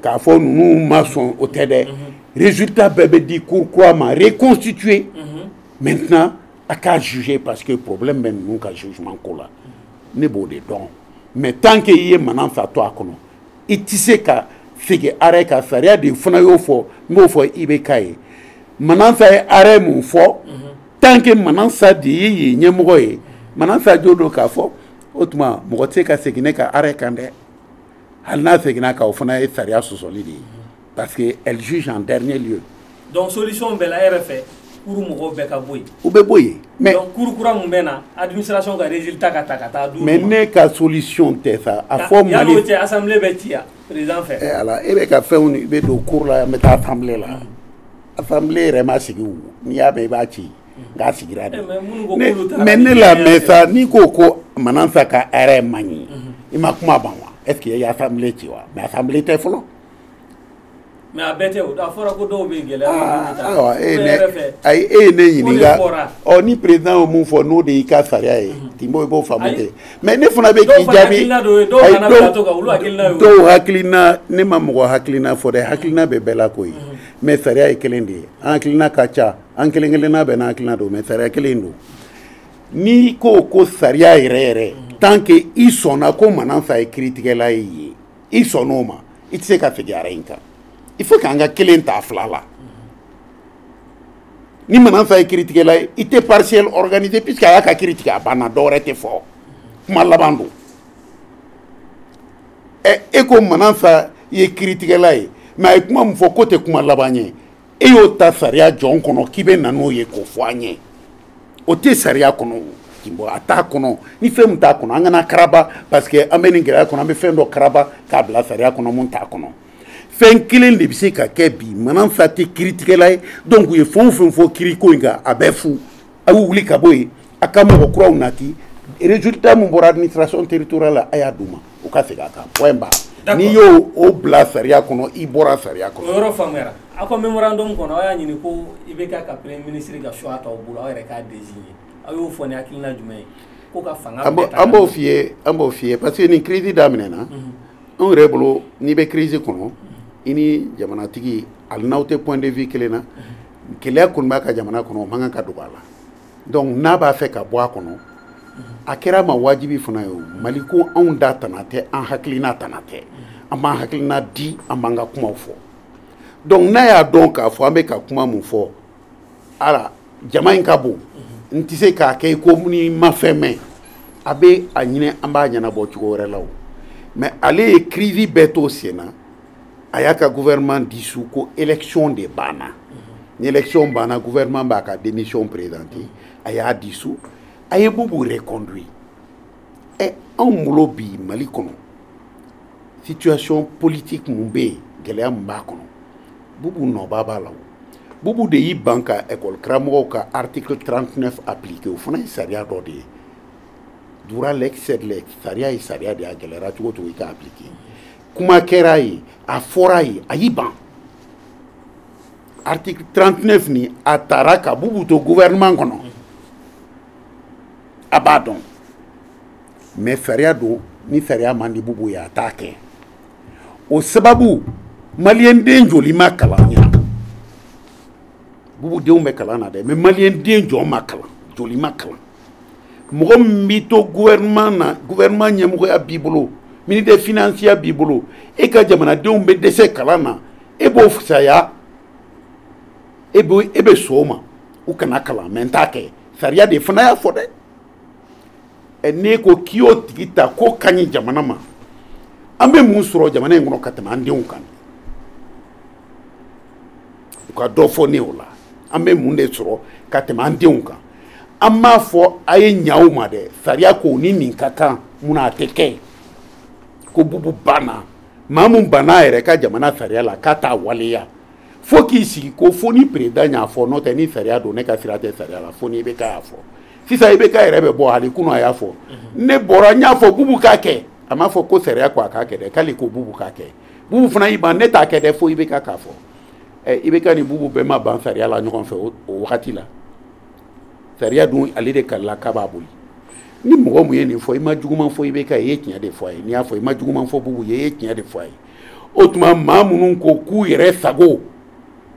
k'a fɔ ninnu ma sɔn o tɛ dɛ mhm. résultat bɛɛ bɛ di cour kura ma reconstituer mhm. maintenant a k'a juger parce que problème bɛ ninnu ka jugement ko la ne b'o de dɔn mais tant que i ye manansa to a kɔnɔ i tɛ se ka segin arrêt kan sariya de fana y'o fɔ n b'o fɔ i bɛ k'a ye manansa ye arrêt mun fɔ tant que manansa de ye yen ɲɛmɔgɔ ye manansa jo don k'a fɔ o tuma mɔgɔ tɛ se ka segin ne ka arrêt kan dɛ hali n'a seginna kan o fana ye sariya sɔsɔli de ye parce que elle juge en dernier lieu donc solution bɛɛ la e yɛrɛ fɛ cour mɔgɔw bɛɛ ka bɔ yen u bɛ bɔ yen mais donc cour kura mun bɛ na administration ka résultat ka ta ka taa d'u ma mais ne ka solution tɛ sa a fɔ mali yanni o cɛ assemblée bɛ ci yan président fɛ eh, ala e bɛ ka fɛnw i bɛ don cour la yan n bɛ taa assemblée la assemblée yɛrɛ ma sigi o n'i y'a mɛn i b'a ci nka sigira de mais ne lamɛn sa n'i ko ko manansa ka arrêt man ɲi i ma kuma ban wa est-ce que i ye assemblée ci wa mais assemblée tɛ fɔlɔ mais a bɛɛ tɛ o a fɔra ko dɔw bɛ gɛlɛya ah, e ayi e ye ne ɲininka ɔ ni président ye mun fɔ n'o de y'i ka sariya ye mhm. tinbo i b'o faamu kɛ mais ne fana bɛ k'i jaabi dɔw hakilina ne ma mɔgɔ hakilina fɔ dɛ hakilina bɛ bɛɛ la koyi mhm. mais sariya ye kelen de ye an hakilina ka ca an kelen kelenna bɛɛ n'an hakilina don mais sariya kelen don n'i ko ko sariya yɛrɛ yɛrɛ mhm. tant que i sɔnna ko manansa ye kiritigɛla ye i sɔnn'o ma i tɛ se ka segin arrêt in kan il faut k'an ka kelen ta fila la ni manansa ye kiritigɛla ye i tɛ partiel organiser puisque a y'a ka kiri tigɛ a banna dɔ wɛrɛ tɛ fɔ kuma laban don ɛ e ko manansa ye kiritigɛla ye mais a ye kuma min fɔ k'o tɛ kuma laban ye e y'o ta sariya jɔn kɔnɔ k'i bɛ na n'o ye k'o fɔ an ye o tɛ sariya kɔnɔ tinbo a t'a kɔnɔ ni fɛn min t'a kɔnɔ an kana karaba parce que an bɛ nin gɛlɛya kɔnɔ an bɛ fɛn dɔ karaba k'a bila sariya kɔnɔ mun t'a kɔnɔ fɛn kelen de bɛ se ka kɛ bi manansa tɛ kiritigɛla ye donc u ye fɛn o fɛn fɔ kiriko in kan a bɛɛ fu a y'u wuli ka bɔ yen a ka mɔgɔ kuraw nati résultat min bɔra administration territoriale la a y'a d'u ma u ka segin a kan point barre n'i y'o o bila sariya kɔnɔ i bɔra sariya kɔnɔ. o yɔrɔ faamuyara aw ka memorandum kɔnɔ aw y'a ɲini ko IBK ka premier ministre ka choix t'aw bolo aw yɛrɛ k'a désigner aw y'o fɔ ni hakilina jumɛn ye ko ka fanga bɛɛ ta an b'o f'i ye an b'o f'i ye parce que nin crise daminɛ na anw yɛrɛ bolo n'i bɛ crise kɔnɔ i ni jamanatigi hali n'aw tɛ point de vue kelen na. gɛlɛya kɔni b'a ka jamana kɔnɔ o man kan ka dogo a la donc n'a b'a fɛ ka bɔ a kɔnɔ a kɛra ma wajibi fana ye o mali ko anw da tana tɛ an hakilina tana tɛ an b'an hakilina di an b'an ka kumaw fɔ donc n'a y'a dɔn k'a fɔ an bɛ ka kuma mun fɔ ala jama in ka bon n tɛ se k'a kɛ i ko n'i ma fɛn mɛn a bɛ a ɲini an b'a ɲɛnabɔ cogo wɛrɛ la o mais ale ye crise bɛɛ to sen na a y'a ka gouvernement dissous ko élection de banna ni élection banna gouvernement b'a ka démission présenter a y'a dissous a ye bubu reconduit ɛ eh, anw bolo bi mali kɔnɔ situation politique mun bɛ yen gɛlɛya mun b'a kɔnɔ bubu nɔba b'a la o bubu de y'i ban ka école karamɔgɔw ka article 39 appliquer o fana ye sariya dɔ de ye dura lex sed lex sariya ye sariya de ye a gɛlɛyara cogo cogo i k'a appliquer kuma kɛra a ye a fɔra a ye a y'i ban article 39 ni a tara ka bubu to gouvernement kɔnɔ a b'a dɔn mais sariya don ni sariya man di bubu ye a t'a kɛ o sababu maliyɛnden joli ma kalan ɲa bubu denw bɛ kalan na dɛ mais maliyɛnden jɔn ma kalan joli ma kalan mɔgɔ min b'i to gouvernement na gouvernement ɲɛmɔgɔya b'i bolo ministère financier b'i bolo e ka jamanadenw bɛ dɛsɛ kalan na e b'o fisaya e bɛ e bɛ sɔn o ma u kana kalan mais n t'a kɛ sariya de fana y'a fɔ dɛ ɛ n'e ko k'i y'o tigi ta k'o ka ɲi jamana ma an bɛ mun sɔrɔ jamana in kɔnɔ ka tɛmɛ an denw kan u ka dɔ fɔ ne o la an bɛ mun de sɔrɔ ka tɛmɛ an denw kan an m'a fɔ a ye ɲa u ma dɛ sariya ko ni nin ka kan munna a tɛ kɛ ko bubu banna maa mun banna a yɛrɛ ka jamana sariya la k'a t'a waleya fo k'i sigi ko fo ni président y'a fɔ n'o tɛ ni sariya don ne ka sira tɛ sariya la fo ni IBK y'a fɔ sisan IBK yɛrɛ bɛ bɔ hali kunu a y'a fɔ mhm. ne bɔra n y'a fɔ bubu k'a kɛ a m'a fɔ ko sariya ko a k'a kɛ dɛ k'ale ko bubu k'a kɛ bubu fana y'i ban ne t'a kɛ dɛ fo IBK k'a fɔ ɛ IBK ni bubu bɛɛ ma ban sariya la ɲɔgɔn fɛ o wagati la sariya dun ale de kalila k'a b'a boli ni mɔgɔ mun ye nin fɔ i ma juguman fɔ IBK i ye tiɲɛ de fɔ a ye n'i y'a fɔ i ma juguman fɔ bubu ye i ye tiɲɛ de fɔ a ye o tuma maa minnu ko k'u yɛrɛ sago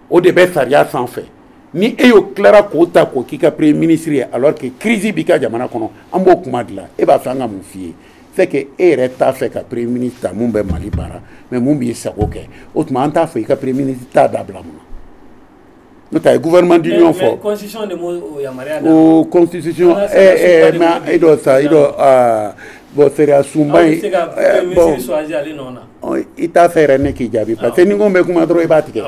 o de bɛ sariya sanfɛ ni e y'o tilara k'o ta k'o k'i ka premier ministre ye alors que crise b'i ka jamana kɔnɔ an b'o kuma de la e b'a fɛ an ka mun f'i ye c'est que e yɛrɛ t'a fɛ ka premier ministre ta mun bɛ mali baara mais mun b'i sago kɛ o tuma an t'a fɔ i ka premier ministre ta dabila mun na n'o tɛ a ye gouvernement d'union fɔ o constitution mais e dɔ sa e dɔ bɔn sariya sunba ye bɔn i t'a fɛ yɛrɛ ne k'i jaabi parce que ni ko n bɛ kuma dɔrɔn i b'a tigɛ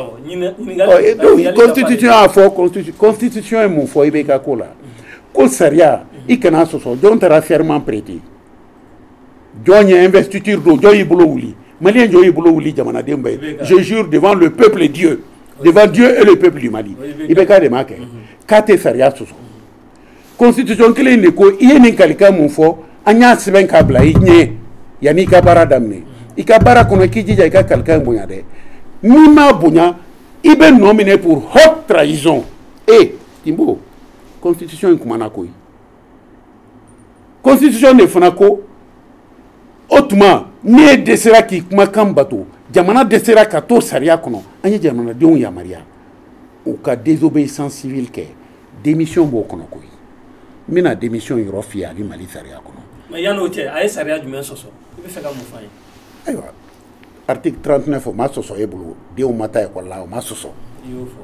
donc constitution y'a fɔ constitution ye mun fɔ IBK ko la ko sariya in kana sɔsɔ jɔn taara serment prêter jɔn ye investiture don jɔn y'i bolo wuli maliyɛn jɔn y'i bolo wuli jamanaden bɛɛ ye je jure devant le peuple dieu devant dieu et le peuple du mali IBK de m'a kɛ k'a tɛ sariya sɔsɔ constitution kelen de ko i ye nin kalikan mun fɔ an y'a sɛbɛn k'a bila i ɲɛ yanni i ka baara daminɛ i ka baara kɔnɔ k'i jija i ka kalikan bonya dɛ n'i m'a bonya i bɛ nɔminɛ pour haute trahison e Timbo, constitution in kumana koyi constitution de fana ko o tuma n'e dɛsɛra k'i kumakan bato jamana dɛsɛra ka to sariya kɔnɔ an ye jamanadenw yamaruya u ka désobéissance civile kɛ démission b'o kɔnɔ koyi n bɛna démission yɔrɔ f'i ye a bɛ mali sariya kɔnɔ. mais yan'o cɛ a ye sariya jumɛn sɔsɔ i b'a fɛ ka mun f'an ye. ayiwa article 39 o ma sɔsɔ e bolo denw ma taa ekɔli la o ma sɔsɔ. i y'o fɔ.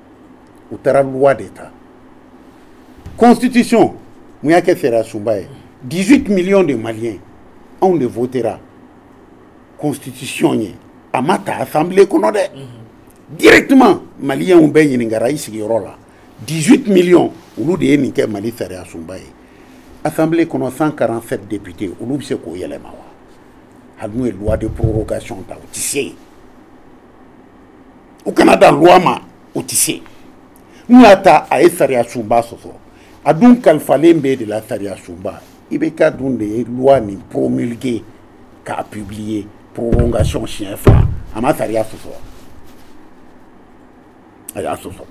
u taara loi de ta constitution mun y'a kɛ sariya sunba ye 18 millions de maliens anw de votera constitution ye a ma ta assemblée kɔnɔ dɛ directement maliyɛnw bɛɛ ɲininkara i sigiyɔrɔ la 18 millions olu de ye nin kɛ mali sariya sunba ye assemblée kɔnɔ 147 députés olu bɛ se k'o yɛlɛma wa hali n'u ye loi de prorogation ta u tɛ se yen u kana dan loi ma o tɛ se n'u y'a ta a ye sariya sunba sɔsɔ a dun kalifalen b'e de la sariya sunba IBK dun de ye loi nin promulguer k'a publier prolongation siɲɛ fila a ma sariya sɔsɔ a y'a sɔsɔ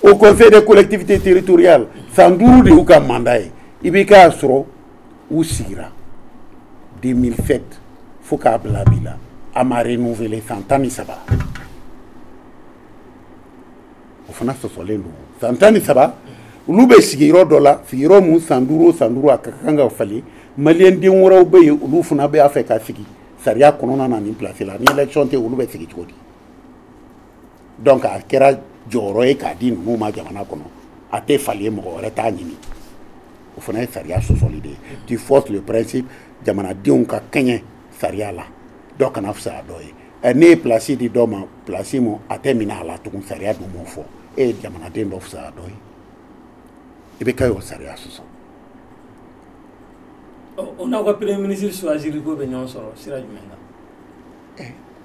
haut conseil des collectivités territoriales san duuru de y'u ka mandat ye IBK sɔrɔ u sigira 2007 fo k'a bila bi la a ma renouveler san tan ni saba o fana sɔsɔlen don san tan ni saba olu bɛ sigiyɔrɔ dɔ la sigiyɔrɔ mun san duuru o san duuru a ka kan ka falen maliyɛn den wɛrɛw bɛ yen olu fana bɛ a fɛ ka sigi sariya kɔnɔna na nin pilasi la ni élection tɛ olu bɛ sigi cogo di donc a kɛra jɔyɔrɔ ye k'a di ninnu ma jamana kɔnɔ a tɛ falen mɔgɔ wɛrɛ t'a ɲini o fana ye sariya sɔsɔli de ye tu fausses le principe jamanadenw ka kɛɲɛ sariya la dɔ kana fisaya dɔ ye ɛ n'e ye pilasi di dɔ ma pilasi mun a tɛ minɛ a la tugun sariya dun m'o fɔ e ye jamanaden dɔ fisaya dɔ ye i bɛ ka o sariya sɔsɔ o n'aw ka premier ministre choisir ko bɛ ɲɔgɔn sɔrɔ sira jumɛn na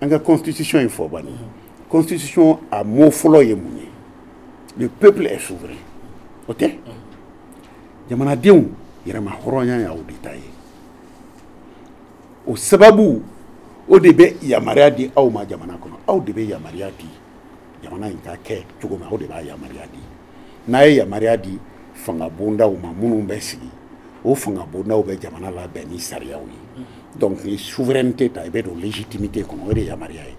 an ka constitution in fɔ bani constitution a mot fɔlɔ ye mun ye le peuple est souverain o tɛ jamanadenw yɛrɛmahɔrɔnya y'aw de ta ye o sababu o de bɛ yamaruya di aw ma jamana kɔnɔ aw de bɛ yamaruya di jamana in ka kɛ cogo min aw de b'a yamaruya di n'a ye yamaruya di fanga bondaw ma minnu bɛ sigi o fanga bondaw bɛ jamana labɛn ni sariyaw ye donc ni souveraineté ta i bɛ don légitimité kɔnɔ o de ye yamaruya ye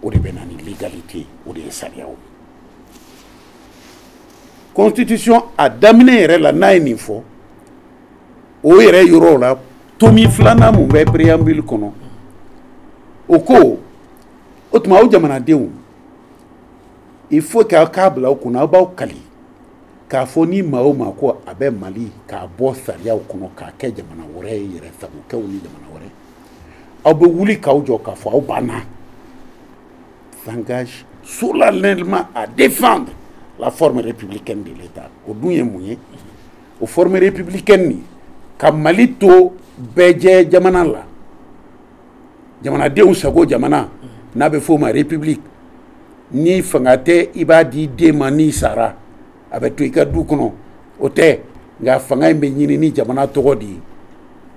o de bɛ na ni légalité o de ye sariyaw ye constitution a daminɛ yɛrɛ la n'a ye nin fɔ o yɛrɛ yɔrɔw la tomi filanan mun bɛ préambule kɔnɔ o ko o tuma aw jamanadenw il faut k'aw k'a bila aw kunna aw b'aw kali k'a fɔ ni maa o maa ko a bɛ mali k'a bɔ sariyaw kɔnɔ k'a kɛ jamana wɛrɛ ye yɛrɛ sagokɛw ni jamana wɛrɛ aw bɛ wuli k'aw jɔ k'a fɔ aw banna s'engage solennellement à défendre la forme républicaine de l'État o dun ye mun ye o forme républicaine nin ka mali to bɛɛ jɛ jamana la jamanadenw sago jamana n'a bɛ f'o ma république ni fanga tɛ i b'a di i den ma n'i sara a bɛ to i ka du kɔnɔ o tɛ nka fanga in bɛ ɲini ni jamana tɔgɔ de ye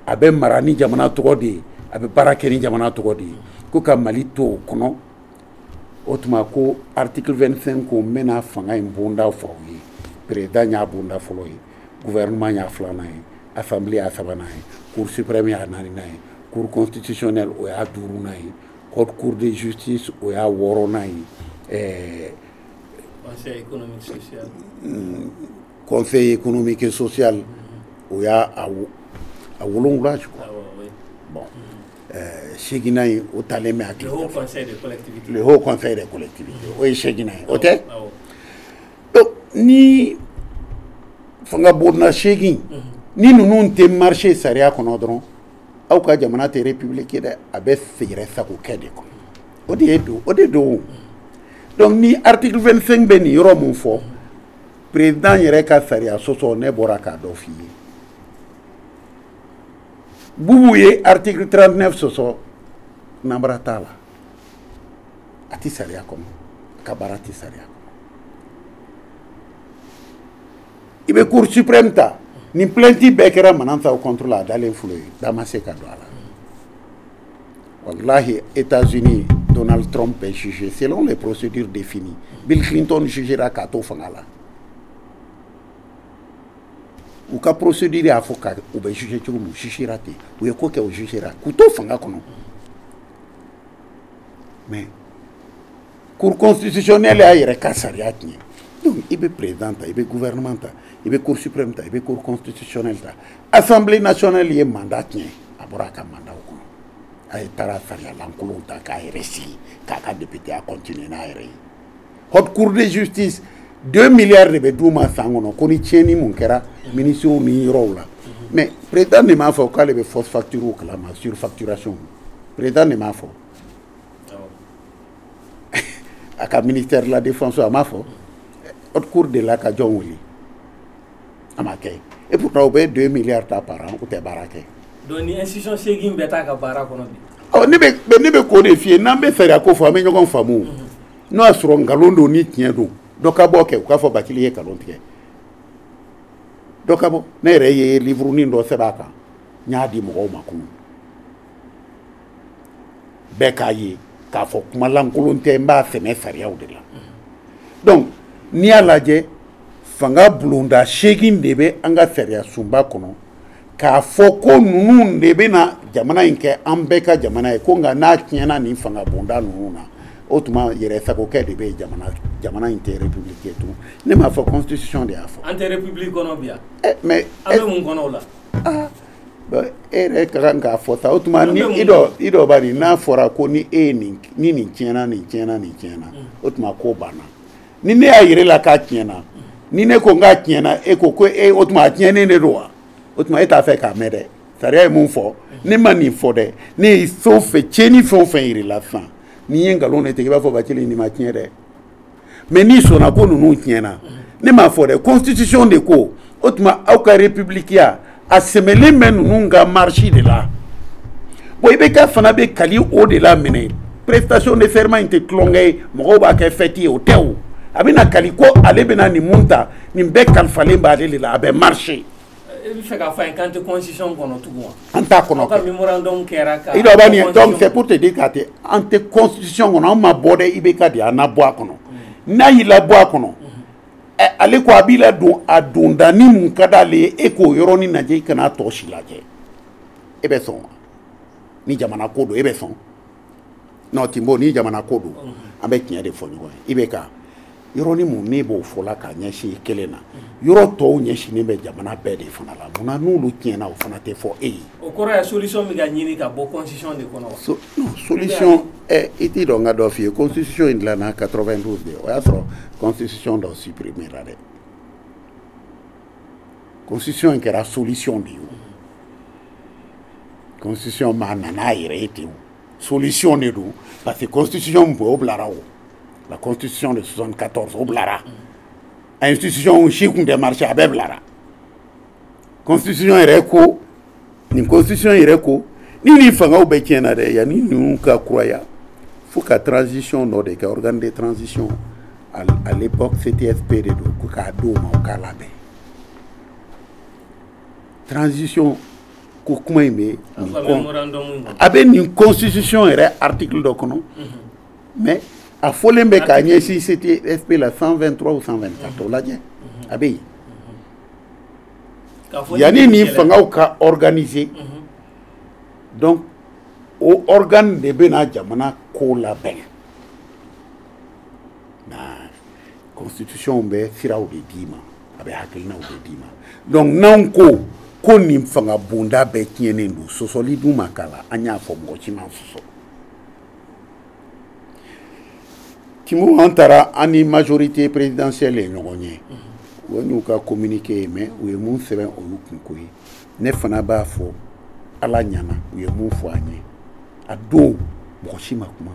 a bɛ mara ni jamana tɔgɔ de ye a bɛ baara kɛ ni jamana tɔgɔ de ye ko ka mali to o kɔnɔ o tuma ko article 25 k'o bɛna fanga in bonda fɔ aw ye président y'a bonda fɔlɔ ye gouvernement y'a filanan ye assemblée y'a sabanan ye cour suprême y'a naaninan ye cour constitutionnelle o y'a duurunan ye Cour de justice o y'a wɔɔrɔnan ye ɛɛ conseil économique social mm, conseil économique et social mm -hmm. o y'a a a wolonwula je crois ah, oui. bon mm-hmm. ɛɛ seeginnan ye o talen bɛ hakili le haut conseil des collectivités le haut conseil des collectivités mm-hmm. o ye seeginnan ye o tɛ donc nin fanga bonda seegin mm-hmm. ni ninnu tɛ marché sariya kɔnɔ dɔrɔn aw ka jamana tɛ république ye dɛ a bɛ yɛrɛ sago kɛ de kɔnɔ o de ye don o de don donc ni article 25 bɛ nin yɔrɔ mun fɔ président yɛrɛ ka sariya sɔsɔ ne bɔra k'a dɔ f'i ye bubu ye article 39 sɔsɔ nanbara t'a la a tɛ sariya kɔnɔ a ka baara tɛ sariya i bɛ cour suprême ta nin plainte bɛɛ kɛra manassaw contre la a dalen filɛ ye da ma se ka don a la walahi états-unis donald trump est jugé selon les procédures définies bill clinton jugera k'a to fanga la u ka procédure y'a fɔ ko u bɛ jugé cogo min u jugera ten u ye ko kɛ u jugera k'u to fanga kɔnɔ mais cour constitutionnelle y'a yɛrɛ ka sariya tiɲɛ donc i bɛ président ta i bɛ gouvernement ta i bɛ cour suprême ta i bɛ cour constitutionnelle ta assemblée nationale ye mandat tiɲɛ a bɔra a ka mandat o kɔnɔ a ye taara sariya lankolonw ta k'a yɛrɛ sigi k'a ka députéya continuer n'a yɛrɛ ye haute cour de justice deux milliards de bɛ d'u ma san kɔnɔ ko ni tiɲɛni mun kɛra ministres ni yɔrɔw la mais président de m'a fɔ k'ale bɛ fausse facture kalama surfacturation président de m'a fɔ a ka ministère de la défense a m'a fɔ haute cour delila ka jɔn wele a ma kɛ et pourtant u bɛ 2 milliards ta par an u tɛ baara kɛ donc nin institution seegin bɛɛ t'a ka baara kɔnɔ bi ɔ ne bɛ ne bɛ k'o de f'i ye n'an bɛ sariya ko fɔ an bɛ ɲɔgɔn faamu mhm. n'o y'a sɔrɔ nkalon don ni tiɲɛ don dɔ ka bɔ kɛ u k'a fɔ bathily ye nkalon tigɛ dɔ ka bɔ ne yɛrɛ ye liburunin dɔ sɛbɛn a kan n y'a di mɔgɔw ma kunun bɛɛ k'a ye k'a fɔ kuma lankolon tɛ n b'a sɛmɛ sariyaw de la donc n'i y'a lajɛ fanga bulonda seegin de bɛ an ka sariya sunba kɔnɔ k'a fɔ ko ninnu de bɛna jamana in kɛ an bɛɛ ka jamana ye ko nka n'a tiɲɛna nin fanga bonda ninnu na o tuma yɛrɛ sagokɛ de bɛ jamana jamana in tɛ république ye tun ne m'a fɔ constitution de y'a fɔ an tɛ république kɔnɔ bi yan mais an bɛ mun kɔnɔ o la e yɛrɛ ka kan k'a fɔ ta o tuma ni i dɔ i dɔ bani n'a fɔra ko ni e ye nin ni nin tiɲɛna nin tiɲɛna nin tiɲɛna o tuma ko banna ni ne y'a yɛrɛ la k'a tiɲɛna ni ne ko n k'a tiɲɛna e ko ko e o tuma a tiɲɛnen de don wa o tuma e t'a fɛ k'a mɛn dɛ sariya ye mun fɔ ne ma nin fɔ dɛ ne ye fɛn o fɛn tiɲɛni fɛn o fɛn yir'i la sisan n'i ye nkalon de tigɛ i b'a fɔ Bacili nin ma tiɲɛ dɛ mais n'i sɔnna ko ninnu tiɲɛna ne m'a fɔ dɛ constitution de ko o tuma aw ka republikiya a sɛmɛlen bɛ ninnu ka marche de la bon IBK fana bɛ kali o de la minɛ prestation de serment in tɛ tulonkɛ ye mɔgɔw b'a kɛ fɛti ye o tɛ o a bɛna kali ko ale bɛna nin mun ta nin bɛɛ kalifalen b'ale de la a bɛ marché. i bɛ fɛ k'a fɔ an ye k'an tɛ constitution kɔnɔ tugun wa. an t'a kɔnɔ kɛ i dɔ bani donc c'est pour te dire k'a tɛ an tɛ constitution kɔnɔ an ma bɔ dɛ IBK de y'an labɔ a kɔnɔ mm. n'a y'i labɔ a kɔnɔ mm-hmm. ale ko a b'i la don a dondanin mun ka d'ale ye e k'o yɔrɔnin lajɛ i kana a tɔ si lajɛ e bɛ sɔn wa ni jamana ko don e bɛ sɔn non Tinbo ni jamana ko don an bɛ tiɲɛ de fɔ ɲɔgɔn ye IBK yɔrɔnin mun ne b'o fɔ la k'a ɲɛsin kelen na yɔrɔ tɔw ɲɛsinnen bɛ jamana bɛɛ de fana la munna n'olu tiɲɛna o fana tɛ fɔ e ye o kɔrɔ ye solution bɛ ka ɲini ka bɔ constitution de kɔnɔ wa, non, solution ɛ i t'i dɔ n ka dɔ f'i ye constitution in dilanna 92 de o y'a sɔrɔ constitution dɔ supprimer la dɛ constitution in kɛra solution de ye o constitution ma na n'a yɛrɛ ye ten o solution de don parce que constitution min bɔ o bilara o la constitution de 74 o bilara institution si tun tɛ marché a bɛɛ bilara constitution yɛrɛ ko nin constitution yɛrɛ ko ni nin fangaw bɛɛ tiɲɛna dɛ yanni ninnu ka kuraya fo ka transition dɔ de kɛ organe de transition à l'époque CTSP de don ko k'a d'o ma o k'a labɛn transition ko kuma in bɛ a bɛ nin constitution yɛrɛ article dɔ kɔnɔ mais a fɔlen bɛ k'a ɲɛsin CTSP la 123 ou 124 o lajɛ a bɛ yen yanni nin fangaw ka organiser mhm. donc o organe de bɛna jamana ko labɛn na constitution bɛ siraw de d'i ma a bɛ hakilinaw de d'i ma donc n'anw ko ko nin fanga bonda bɛɛ tiɲɛnen don sɔsɔli dun ma k'a la an y'a fɔ mɔgɔ si ma sɔsɔ kimu an taara an ni majorité présidentielle ye ɲɔgɔn ye o y'u ka communiqué ye mais u ye mun sɛbɛn olu kunko ye ne fana b'a fɔ ala ɲana u ye mun fɔ an ye a don mɔgɔ si ma kuma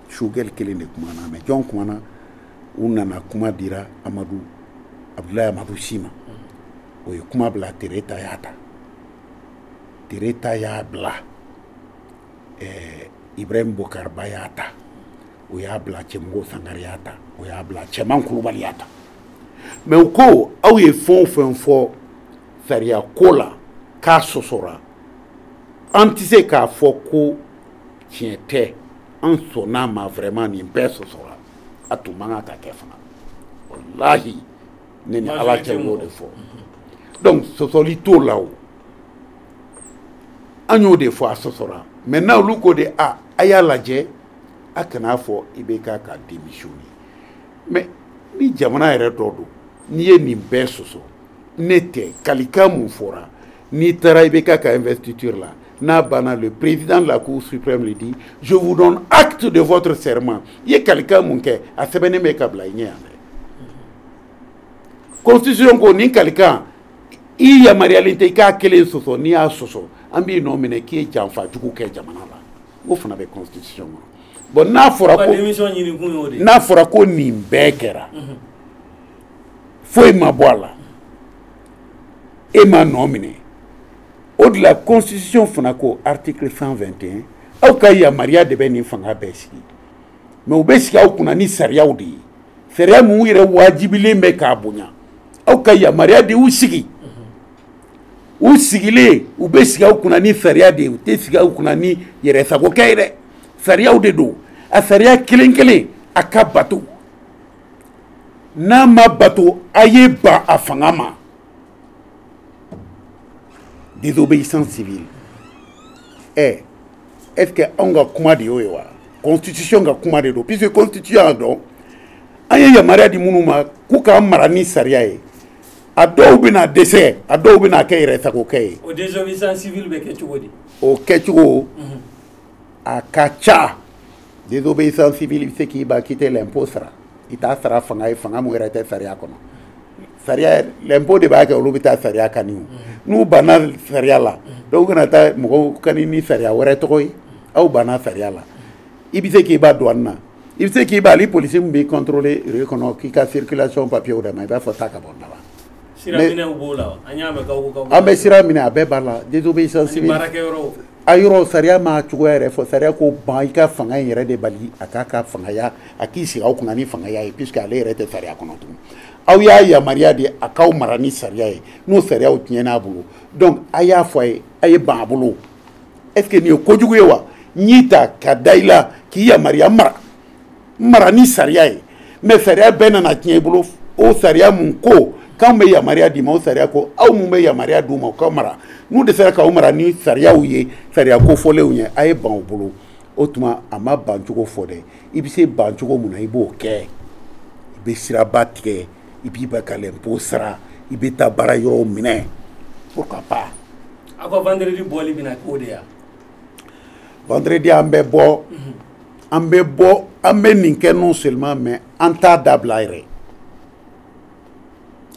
choguel kelen de kumana mais jɔn kumana u nana kuma dira amadu abudulayi amadu si ma o ye kuma bila tereta y'a ta tereta y'a bila eh, ibrahim bokar ba y'a ta o y'a bila cɛmɔgɔ sangare y'a ta o y'a bila cɛman kulubali y'a ta mais u ko aw ye fɛn o fɛn fɔ sariya ko la k'a sɔsɔra an tɛ se k'a fɔ ko tiɲɛ tɛ an sɔnn'a ma vraiment nin bɛɛ sɔsɔra a tun man kan ka kɛ fana walahi ne ni ala cɛ n y'o de fɔ donc sɔsɔli t'o la o an y'o de fɔ a sɔsɔra maintenant olu ko de a a y'a lajɛ a kan'a fɔ ibk ka démissionner mais ni jamana yɛrɛ dɔ don n'i ye nin bɛɛ sɔsɔ ne tɛ kalikan mun fɔra n'i taara ibk ka investiture la n'a banna le président de la cour suprême le dit je vous donne acte de votre serment i ye kalikan mun kɛ a sɛbɛnnen bɛ ka bila i ɲɛ yan dɛ constitution ko nin kalikan i yamaruyalen tɛ i k'a kelen sɔsɔ n'i y'a sɔsɔ an b'i nɔ minɛ k'i ye janfa jugu kɛ jamana la o fana bɛ constitution kɔnɔ bon n'a fɔra ko nin bɛɛ kɛra mhm. foyi ma bɔ a la e ma nɔ minɛ o de la constitution fana ko article 121 aw ka yamaruya de bɛ nin fanga bɛɛ sigi mais u bɛ sigi aw kunna ni sariyaw de ye sariya min u yɛrɛ wajibilen bɛ k'a bonya aw ka yamaruya de y'u sigi u sigilen u bɛ sigi aw kunna ni sariya de ye u tɛ sigi aw kunna ni yɛrɛsagokɛ ye dɛ sariyaw de don a sariya kelen kelen a ka bato n'a ma bato a ye ban a fanga ma désobéissance civile eh, est ce que anw ka kuma de y'o ye wa constitution ka kuma de don puisque constitution y'a dɔn an ye yamaruya di minnu ma k'u k'an mara ni sariya ye a dɔw bɛna dɛsɛ a dɔw bɛna kɛ yɛrɛsagokɛ ye o désobéissance civile bɛ kɛ cogo di o kɛcogo a ka ca désobéissance civile i bɛ se k'i ba k'i tɛ l'impôt sara i t'a sara fanga ye fanga mun yɛrɛ tɛ sariya kɔnɔ sariya l'impôt de b'a kɛ olu bɛ taa sariya kani o n'u banna sariya la dɔw kana taa mɔgɔw kani ni sariya wɛrɛ tɔgɔ ye aw banna sariya la i bɛ se k'i ba douane na i bɛ se k'i ba hali polisi min b'i contrôler rue kɔnɔ k'i ka circulation papier d'a ma i b'a fɔ taa ka bɔ n da la An bɛ sira minɛ a bɛɛ b'a la a yɔrɔ sariya ma cogo yɛrɛ fɔ sariya ko ban i ka fanga in yɛrɛ de bali a k'a ka fangaya a k'i sigi aw kunna ni fangaya ye puisque ale yɛrɛ tɛ sariya kɔnɔ tugun aw y'a yamaruya de a k'aw mara ni sariya ye n'o sariyaw tiɲɛn'a bolo donc a y'a fɔ a ye a ye ban a bolo est-ce que nin ye kojugu ye wa an y'i ta ka da i la k'i yamaruya mara mara ni sariya ye mais sariya bɛɛ nana tiɲɛ i bolo o sariya mun ko k'anw bɛ yamaruya d'i ma o sariya ko aw mun bɛ yamaruya d'u ma u ka mara n'u dɛsɛra k'aw mara ni sariyaw ye sariya kofɔlenw ye a ye ban u bolo o tuma a ma ban cogo fɔ dɛ i bɛ se ban cogo mun na i b'o kɛ i bɛ siraba tigɛ i b'i ban ka lɛnpo sara i bɛ taa baara yɔrɔw minɛ pourquoi pas. aw ka vendredi bɔli bɛna k'o de ye. vendredi an bɛ bɔ. Mm -hmm. an bɛ bɔ an bɛ nin kɛ non seulement mais an t'a dabila yɛrɛ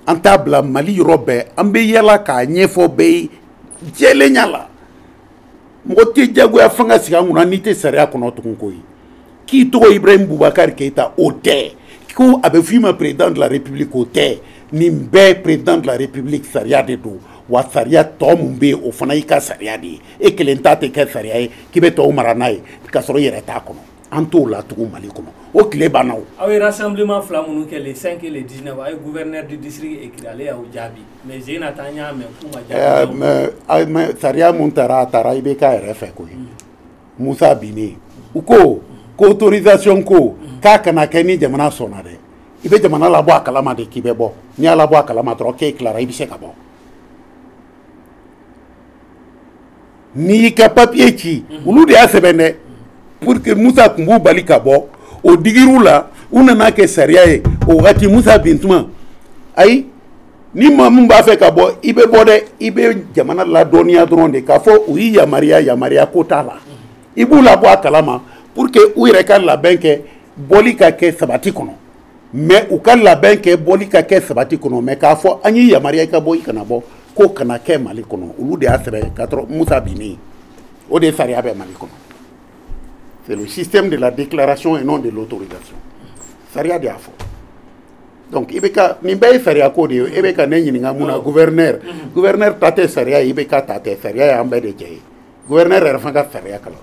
an t'a bila mali yɔrɔ bɛɛ an bɛ yala k'a ɲɛfɔ bɛɛ ye jɛlenya la mɔgɔ tɛ jagoya fanga sigi an kunna n'i tɛ sariya kɔnɔ tugun koyi k'i tɔgɔ ibrahim bubakari keyita o tɛ ko a bɛ f'i ma président de la république o tɛ nin bɛɛ président de la république sariya de don wa sariya tɔ min bɛ yen o fana y'i ka sariya de ye e kelen ta tɛ kɛ sariya ye k'i bɛ tɔw mara n'a ye k'a sɔrɔ i yɛrɛ t'a kɔnɔ an t'o la tugun mali kɔnɔ o tile banna o. aw ye rassemblement fila minnu kɛ le 5 et le 19 aw ye gouverneur du district écrit ale y'aw jaabi mais sen in na ta n y'a mɛn k'u ma jaabi. ɛɛ eh, mais sariya mun taara a taara IBK yɛrɛ fɛ koyi mm. musa binnen u ko ko autorisation ko mm. k'a kana kɛ ni jamana sɔnna dɛ i bɛ jamana labɔ a kalama de k'i bɛ bɔ n'i y'a labɔ a kalama dɔrɔn k'e tilara i bɛ se ka bɔ. n'i y'i ka papiye ci olu de y'a sɛbɛn dɛ pour que musa tun b'u bali ka bɔ o digir'u la u nana kɛ sariya ye o wagati musa bin tuma ayi ni maa min b'a fɛ ka bɔ i bɛ bɔ dɛ i bɛ jamana ladɔnniya dɔrɔn de k'a fɔ u y'i yamaruya yamaruya ko t'a la i b'u labɔ a kalama pour que u yɛrɛ ka labɛn kɛ bɔli ka kɛ sabati kɔnɔ mais u ka labɛn kɛ bɔli ka kɛ sabati kɔnɔ mais k'a fɔ an y'i yamaruya i ka bɔ i kana bɔ k'o kana kɛ mali kɔnɔ olu de y'a sɛbɛn ka sɔrɔ musa binnen o de ye sariya bɛ mali kɔnɔ c'est le système de la déclaration et non de l'autorisation sariya de y'a fɔ donc IBK nin bɛɛ ye sariya ko de ye e bɛ ka ne ɲininka mun na gouverneur gouverneur ta tɛ sariya ye IBK ta tɛ sariya y'an bɛɛ de jɛ ye gouverneur yɛrɛ fana ka sariya kalan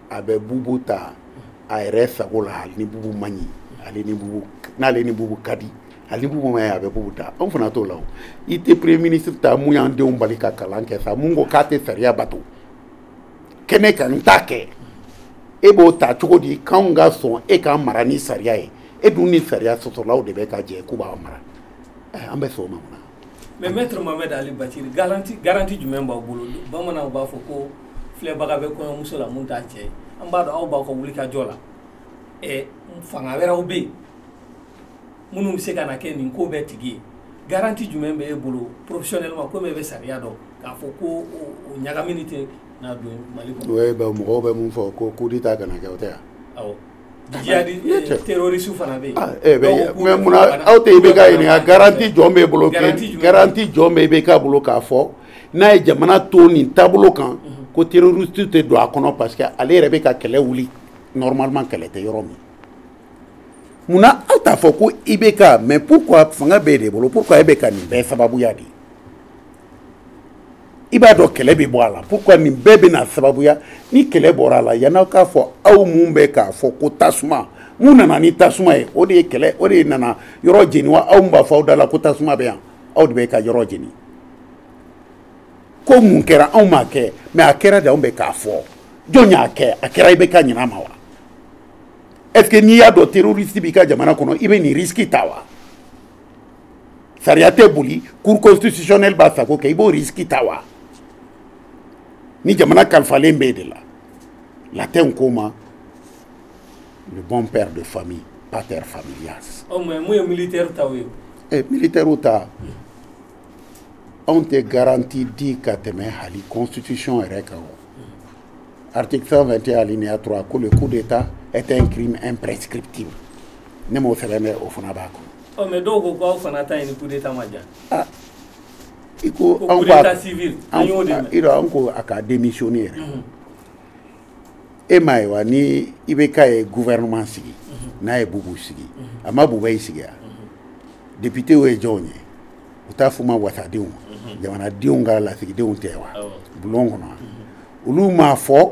a bɛ bubu ta a yɛrɛ sago la hali ni bubu man ɲi ale ni bubu n'ale ni bubu ka di hali ni bubu ma ɲɛ a bɛ bubu ta anw fana t'o la o i tɛ premier ministre ta mun y'an denw bali ka kalan kɛ sa mun ko k'a tɛ sariya bato kɛnɛ kan n t'a kɛ e b'o ta cogo di k'anw ka sɔn e k'an mara ni sariya ye e dun ni sariya sɔsɔlaw de bɛ ka jɛ k'u b'an mara an bɛ sɔn o ma mun na Mais maître Mohamed Ali Bathily garanti jumɛn b'aw bolo bamananw b'a fɔ ko filɛbaga bɛ kɔɲɔmuso la mun t'a cɛ an b'a dɔn aw b'aw ka wulikajɔ la fanga wɛrɛw bɛ yen minnu bɛ se ka na kɛ nin ko bɛɛ tigi ye garanti jumɛn bɛ e bolo professionnellement komi e bɛ sariya dɔn k'a fɔ ko o ɲagamini tɛna don Mali kɔnɔ mɔgɔw bɛ min fɔ ko coup d'état kana kɛ o tɛ yan Terroriste fana bɛ yen mais munna aw tɛ IBK ɲininka garanti jɔn b'e bolo garanti jɔn bɛ IBK bolo k'a fɔ n'a ye jamana to ni taabolo kan ko terroriste tɛ don a kɔnɔ parce que ale yɛrɛ bɛ ka kɛlɛ wuli normalement kɛlɛ tɛ yɔrɔ min munna aw t'a fɔ ko IBK mais pourquoi fanga b'e de bolo pourquoi e bɛ ka nin bɛɛ sababuya de ye i b'a dɔn kɛlɛ bɛ bɔ a la pourquoi nin bɛɛ bɛna sababuya ni kɛlɛ bɔra a la yann'aw k'a fɔ aw mun bɛ k'a fɔ ko tasuma mun nana ni tasuma ye o de ye kɛlɛ o de nana yɔrɔ jeni wa aw mun b'a fɔ aw da la ko tasuma bɛ yan aw de bɛ ka yɔrɔ jeni ko mun kɛra anw m'a kɛ mais a kɛra de anw bɛ k'a fɔ jɔn y'a kɛ a kɛra IBK ɲinɛ ma wa est ce que n'i y'a dɔn terroriste b'i ka jamana kɔnɔ i bɛ nin risque ta wa sariya tɛ boli cour constitutionnelle b'a sago kɛ i b'o risque ta wa ni jamana kalifalen b'e de la latin k'o ma le bon père de famille pater familias ɔ mais mun ye militairew ta ye eh, militairew ta anw tɛ garanti di ka tɛmɛ hali constitution yɛrɛ kan o article 121 alinéa 3 ko le coup d'état est un crime imprescriptible ne m'o sɛbɛn dɛ o fana b'a kɔnɔ ɔ mais dɔw ko ko aw fana ta ye ni kudeta ma ja ah, i ko kudeta civil an y'o de mɛn an ko a ka demisiyoni yɛrɛ mhm. e m'a ye wa ni IBK ye gouvernement sigi mhm. n'a ye Bubu sigi mhm. a ma Boubèye sigi yan députéw ye jɔnw ye u t'a f'u ma wasadenw jamanadenw ka lasigidenw tɛ wa bulon kɔnɔ olu m'a fɔ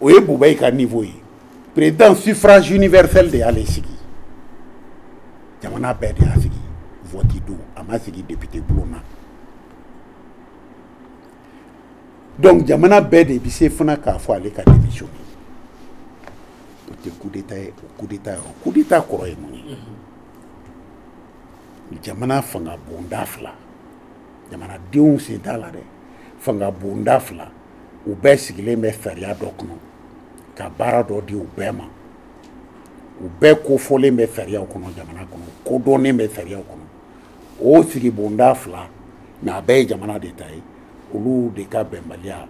o ye Boubèye ka niveau ye président suffrage universel de y'ale sigi jamana bɛɛ de y'a sigi vote don a ma sigi député bulon na donc jamana bɛɛ de bɛ se fana k'a fɔ ale ka démissionner o tɛ kudeta ye o kudeta ye o kudeta kɔrɔ ye mun ye jamana fanga bonda fila jamanadenw sen t'a la dɛ fanga bonda fila u bɛɛ sigilen bɛ sariya dɔ kɔnɔ ka baara dɔ di u bɛɛ ma u bɛɛ kofɔlen bɛ sariyaw kɔnɔ jamana kɔnɔ kodɔnnen bɛ sariyaw kɔnɔ o sigibonda fila mais a bɛɛ ye jamana de ta ye olu de ka bɛnbaliya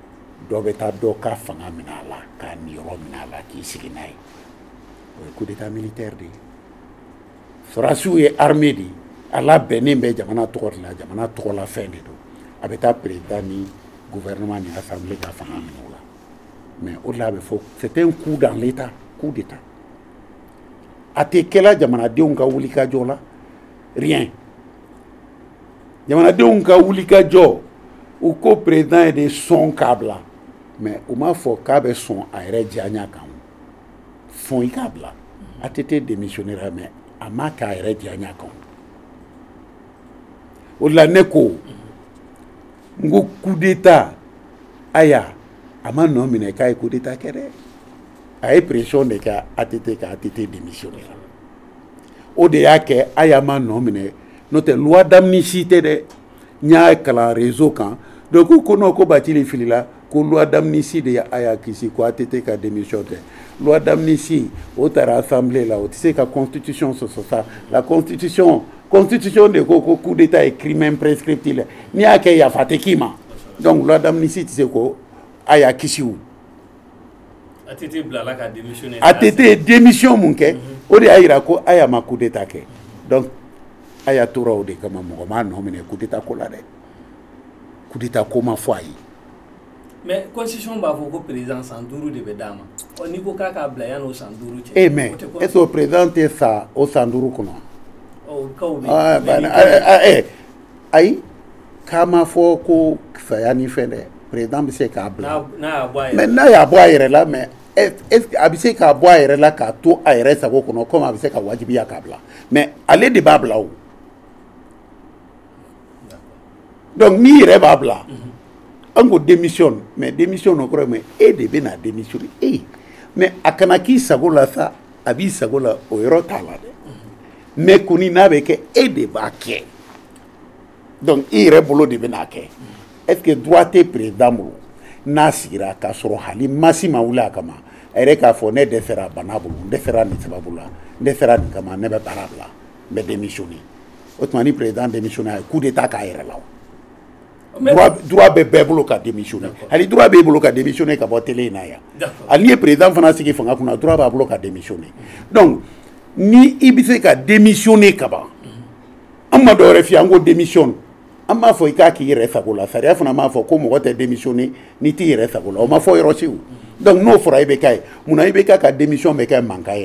dɔ bɛ taa dɔ ka fanga minɛ a la k'a niyɔrɔ minɛ a la k'i sigi n'a ye o ye coup d'état militaire de ye sɔrɔdasiw ye armée de ye a labɛnnen bɛ jamana tɔgɔ de la jamana tɔgɔlafɛn de don a bɛ taa président ni gouvernement ni assemblée ka fanga minɛ o la mais o de la a bɛ fɔ c'est un coup dans l'état coup d'état a tɛ kɛla jamanadenw ka wulikajɔ la rien jamanadenw ka wulikajɔ u ko président ye de sɔn k'a bila mais u m'a fɔ k'a bɛ sɔn a yɛrɛ diyaɲa kan sɔn i k'a bila ATT démissionnera mais a m'a kɛ a yɛrɛ diyaɲa kan o de la ne ko n ko coup d'état Aya a ma nɔ minɛ k'a ye coup d'état kɛ dɛ a ye pression de kɛ ATT kan ATT démissionnera o de y'a kɛ Aya ma nɔ minɛ n'o tɛ loi d'amnistie tɛ dɛ n y'a kalan réseau kan donc k'u ko non ko Bathily filila ko loi d'amnistie de ye Aya kisi ko ATT ka démission tɛ loi d'amnistie o taara assemblée la o tɛ se ka constitution sɔsɔ sa la constitution constitution de ko ko coup d'état ye crime imprescriptible ye n'i y'a kɛ yafa tɛ k'i ma donc loi d'amnistie tɛ se ko Aya kisi o ATT bilala ka démissionner ATT ye démission mun kɛ o de y'a yira ko Aya ma coup d'état kɛ donc Aya tora o de kama mɔgɔ m'a nɔ minɛ coup d'état ko la dɛ coup d'état ko ma fɔ a ye mais constitution b'a fɔ ko président san duuru de bɛ d'a ma ɔ n'i ko k'a k'a bila yanni o san duuru cɛ. e mais est ce que o président tɛ sa o san duuru kɔnɔ. ɔ o kaw bɛ yen. ayi k'a ma fɔ ko saya ni fɛn dɛ président bɛ se k'a bila. n'a y'a bɔ a yɛrɛ la mais n'a y'a bɔ a yɛrɛ la mais est ce que a bɛ se k'a bɔ a yɛrɛ la k'a to a yɛrɛ sago kɔnɔ comme a bɛ se ka wajibiya k'a bila mais ale de b'a bila o. donc n'i yɛrɛ b'a bila an ko démission mais démission nɔ kɔrɔ mais e de bɛna démissionner mais a kana k'i sago la sa a b'i sago la o yɔrɔ t'a la dɛ mais kɔni n'a bɛ kɛ e de b'a kɛ donc i yɛrɛ bolo de bɛn'a kɛ est ce que droit tɛ président bolo n'a sigira k'a sɔrɔ hali maa si ma wuli a kama a yɛrɛ k'a fɔ ne dɛsɛra bana bolo n dɛsɛra nin sababu la n dɛsɛra nin kama ne bɛ baara bila n bɛ démissionné o tuma ni président démissionné a ye coup d'état k'a yɛrɛ la o droit bɛ bɛɛ bolo ka démissionné hali droit b'e bolo ka démissionné ka bɔ télé in na yan hali n'i ye président fana sigi fanga kunna droit b'a bolo ka démissionné donc ni i bɛ se ka démissionné ka ban an ma dɔwɛrɛ f'i ye an ko démissionne an m'a fɔ i k'a k'i yɛrɛ sago la sariya fana m'a fɔ ko mɔgɔ tɛ démissionné n'i t'i yɛrɛ sago la o ma fɔ yɔrɔ si o donc n'o fɔra i bɛ k'a ye munna i bɛ k'a ka démission bɛ kɛ mankan ye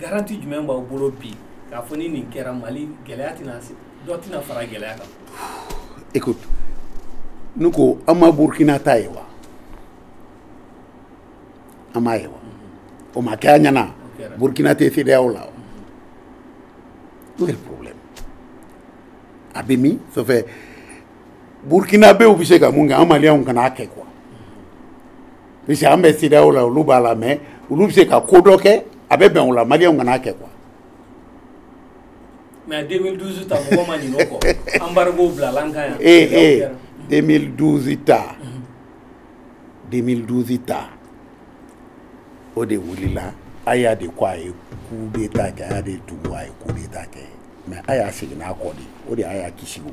garanti jumɛn b'aw bolo bi k'a fɔ ni nin kɛra mali gɛlɛya tɛna dɔ tɛna fara gɛlɛya kan écoute ne ko an ma burkina ta ye wa an m'a ye wa o ma kɛ a ɲɛna burkina tɛ CEDEAO la wa où est le problème a bɛ min ça fait burkinabew bɛ se ka mun kɛ an maliyɛnw kana a kɛ quoi parce que an bɛ CEDEAO la olu b'a la mais olu bɛ se ka ko dɔ kɛ a bɛ bɛn u la maliyɛnw kan'a kɛ quoi. mais 2012 ta mɔgɔ ma ɲinɛ o kɔ embargo bilala an kan yan. ee ee 2012 ta 2012 ta o de wulila Aya de ko a ye coup d'état kɛ Aya de tugu a ye coup d'état kɛ mais Aya seginna a kɔ dɛ o de ye Aya kisi o.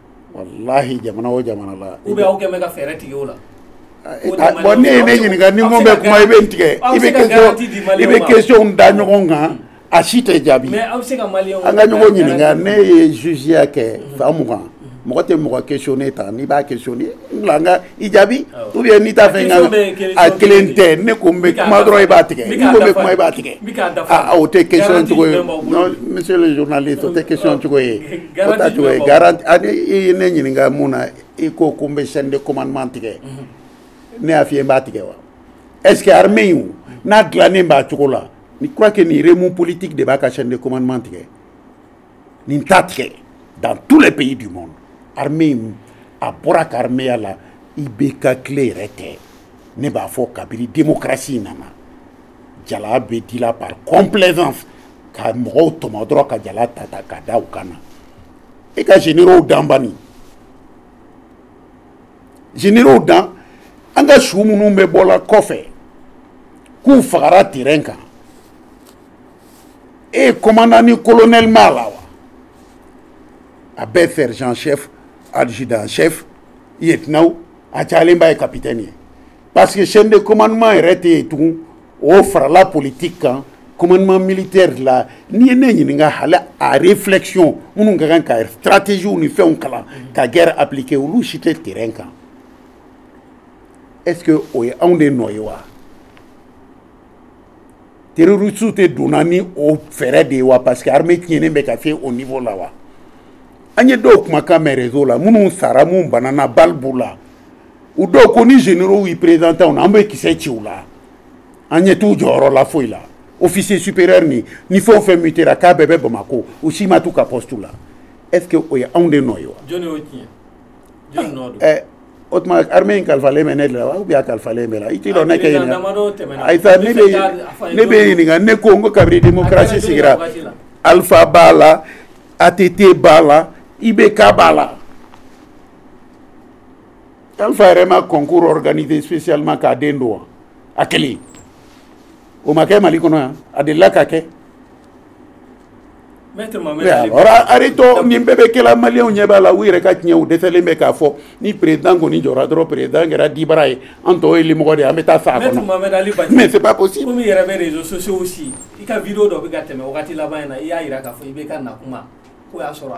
walahi jamana o jamana la u bɛ aw kɛ bɛ ka fɛɛrɛ tigɛ o la bon e ye ne ɲininka ni mɔgɔ bɛ kuma i bɛ n tigɛ i bɛ question i bɛ questionw da ɲɔgɔn kan a si tɛ jaabi an ka ɲɔgɔn ɲininka ne ye jugeya kɛ san mugan mɔgɔ tɛ mɔgɔ questionné tan n'i b'a questionné n bila an ka i jaabi ou bien n'i t'a fɛ n ka a kelen tɛ ne ko n bɛ kuma dɔrɔn i b'a tigɛ n ko n bɛ kuma i b'a tigɛ aa o tɛ question cogo ye non monsieur le journaliste o tɛ question cogo ye o t'a cogo ye garanti ani i ye ne ɲininka mun na i ko ko n bɛ chaîne de commandement tigɛ ne y'a f'i ye n b'a tigɛ wa est ce que armée in n'a dilannen b'a cogo la n'i crois que nin remous politique de b'a ka chaîne de commandement tigɛ nin t'a tigɛ dans tous les pays du monde armée in a bɔra a ka armeya la i bɛ ka kɛlɛ yɛrɛ tɛ ne b'a fɔ kabiri démocratie in nana jala bɛ dila par complaisance ka mɔgɔw tɔmɔ dɔrɔn ka jala ta ta ka da u kan na i ka généraux dan bani généraux dan an ka su minnu bɛ bɔla kɔfɛ k'u fagara terrain kan e ye commandant ni colonel mɛn a la wa a bɛɛ sergent chef adjudant chef lieutenant a cayalen ba ye capitaine ye parce que chaîne de commandement yɛrɛ tɛ yen tugun o farala politique kan commandement militaire la n'i ye ne ɲininka hali a réflexion minnu ka kan ka stratégie ni fɛnw kalan ka guerre appliquer olu si tɛ terrain kan est ce que o ye anw de nɔ ye wa terrorisiw tɛ donna ni o fɛɛrɛ de ye wa parce que armée tiɲɛnen bɛ ka se o niveau la wa an ye dɔw kumakan mɛn réseau la minnu sara minnu banana balle b'u la u dɔw ko ni généraux y'i présenté an na an bɛ kisɛ ci u la an ɲɛ t'u jɔyɔrɔ la foyi la officier supérieur ninnu fɛn o fɛn mutera k'a bɛɛ bɛ bamakɔ u si ma t'u ka poste la est ce que o ye anw de nɔ ye wa jɔni y'o tiɲɛ jɔni nɔ don o tuma armée in kalifalen bɛ ne de la wa ou bien a kalifalen bɛ e la i t'i lɔ ne k'i ɲininka ayisa ne bɛ ne b'i ɲininka ne ko n ko kabini démocratie sigira alpha b'a la ATT b'a la IBK b'a la alpha yɛrɛ ma concours organisé spécialement k'a den don wa a kelen o ma kɛ Mali kɔnɔ yan a delila ka kɛ arrêtons nin bɛɛ bɛ kɛla maliens ɲɛ b'a la u yɛrɛ ka tiɲɛ u dɛsɛlen bɛ k'a fɔ ni président kɔni jɔra dɔrɔn président kɛra dibara ye an tɔw ye limɔgɔ de an bɛ taa sa a kɔnɔ mais c'est pas possible komi i yɛrɛ bɛ réseaux sociaux suivi i ka vidéo dɔ bɛ ka tɛmɛ wagati laban in na i y'a jira k'a fɔ IBK na tuma k'o y'a sɔrɔ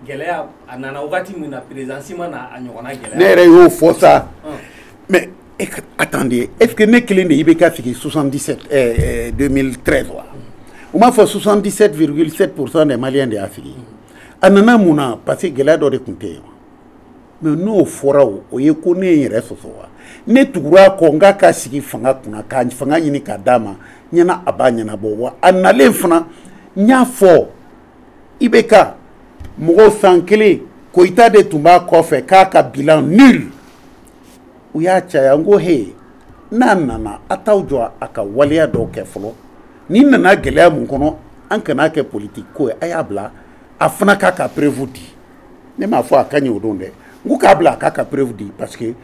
gɛlɛya a nana wagati min na président si ma na a ɲɔgɔnna gɛlɛya ne yɛrɛ y'o fɔ sa mais attendez est ce que ne kelen de ye IBK sigi 77 eh, 2013 wa u m'a fɔ 77,7 pourcent des maliens de y'a sigi a nana mun na parce que gɛlɛya dɔ de tun tɛ yen mais n'o fɔra o o ye ko ne ye n yɛrɛ sɔsɔ wa ne tugura a kɔ n k'a ka sigi fanga kunna ka fanga ɲini k'a d'a ma ɲɛna a b'a ɲɛnabɔ wa a nalen fana n y'a fɔ IBK mɔgɔw san kelen koyita de tun b'a kɔfɛ k'a ka bilan nul u y'a caya n ko he n'a nana a t'aw jɔ a ka waleya dɔw kɛ fɔlɔ nin nana gɛlɛya mun kɔnɔ an kana a kɛ politiki ko ye a y'a bila a fana k'a ka preuve di ne m'a fɔ a ka ɲi o don dɛ n ko k'a bila a k'a ka preuve di parce que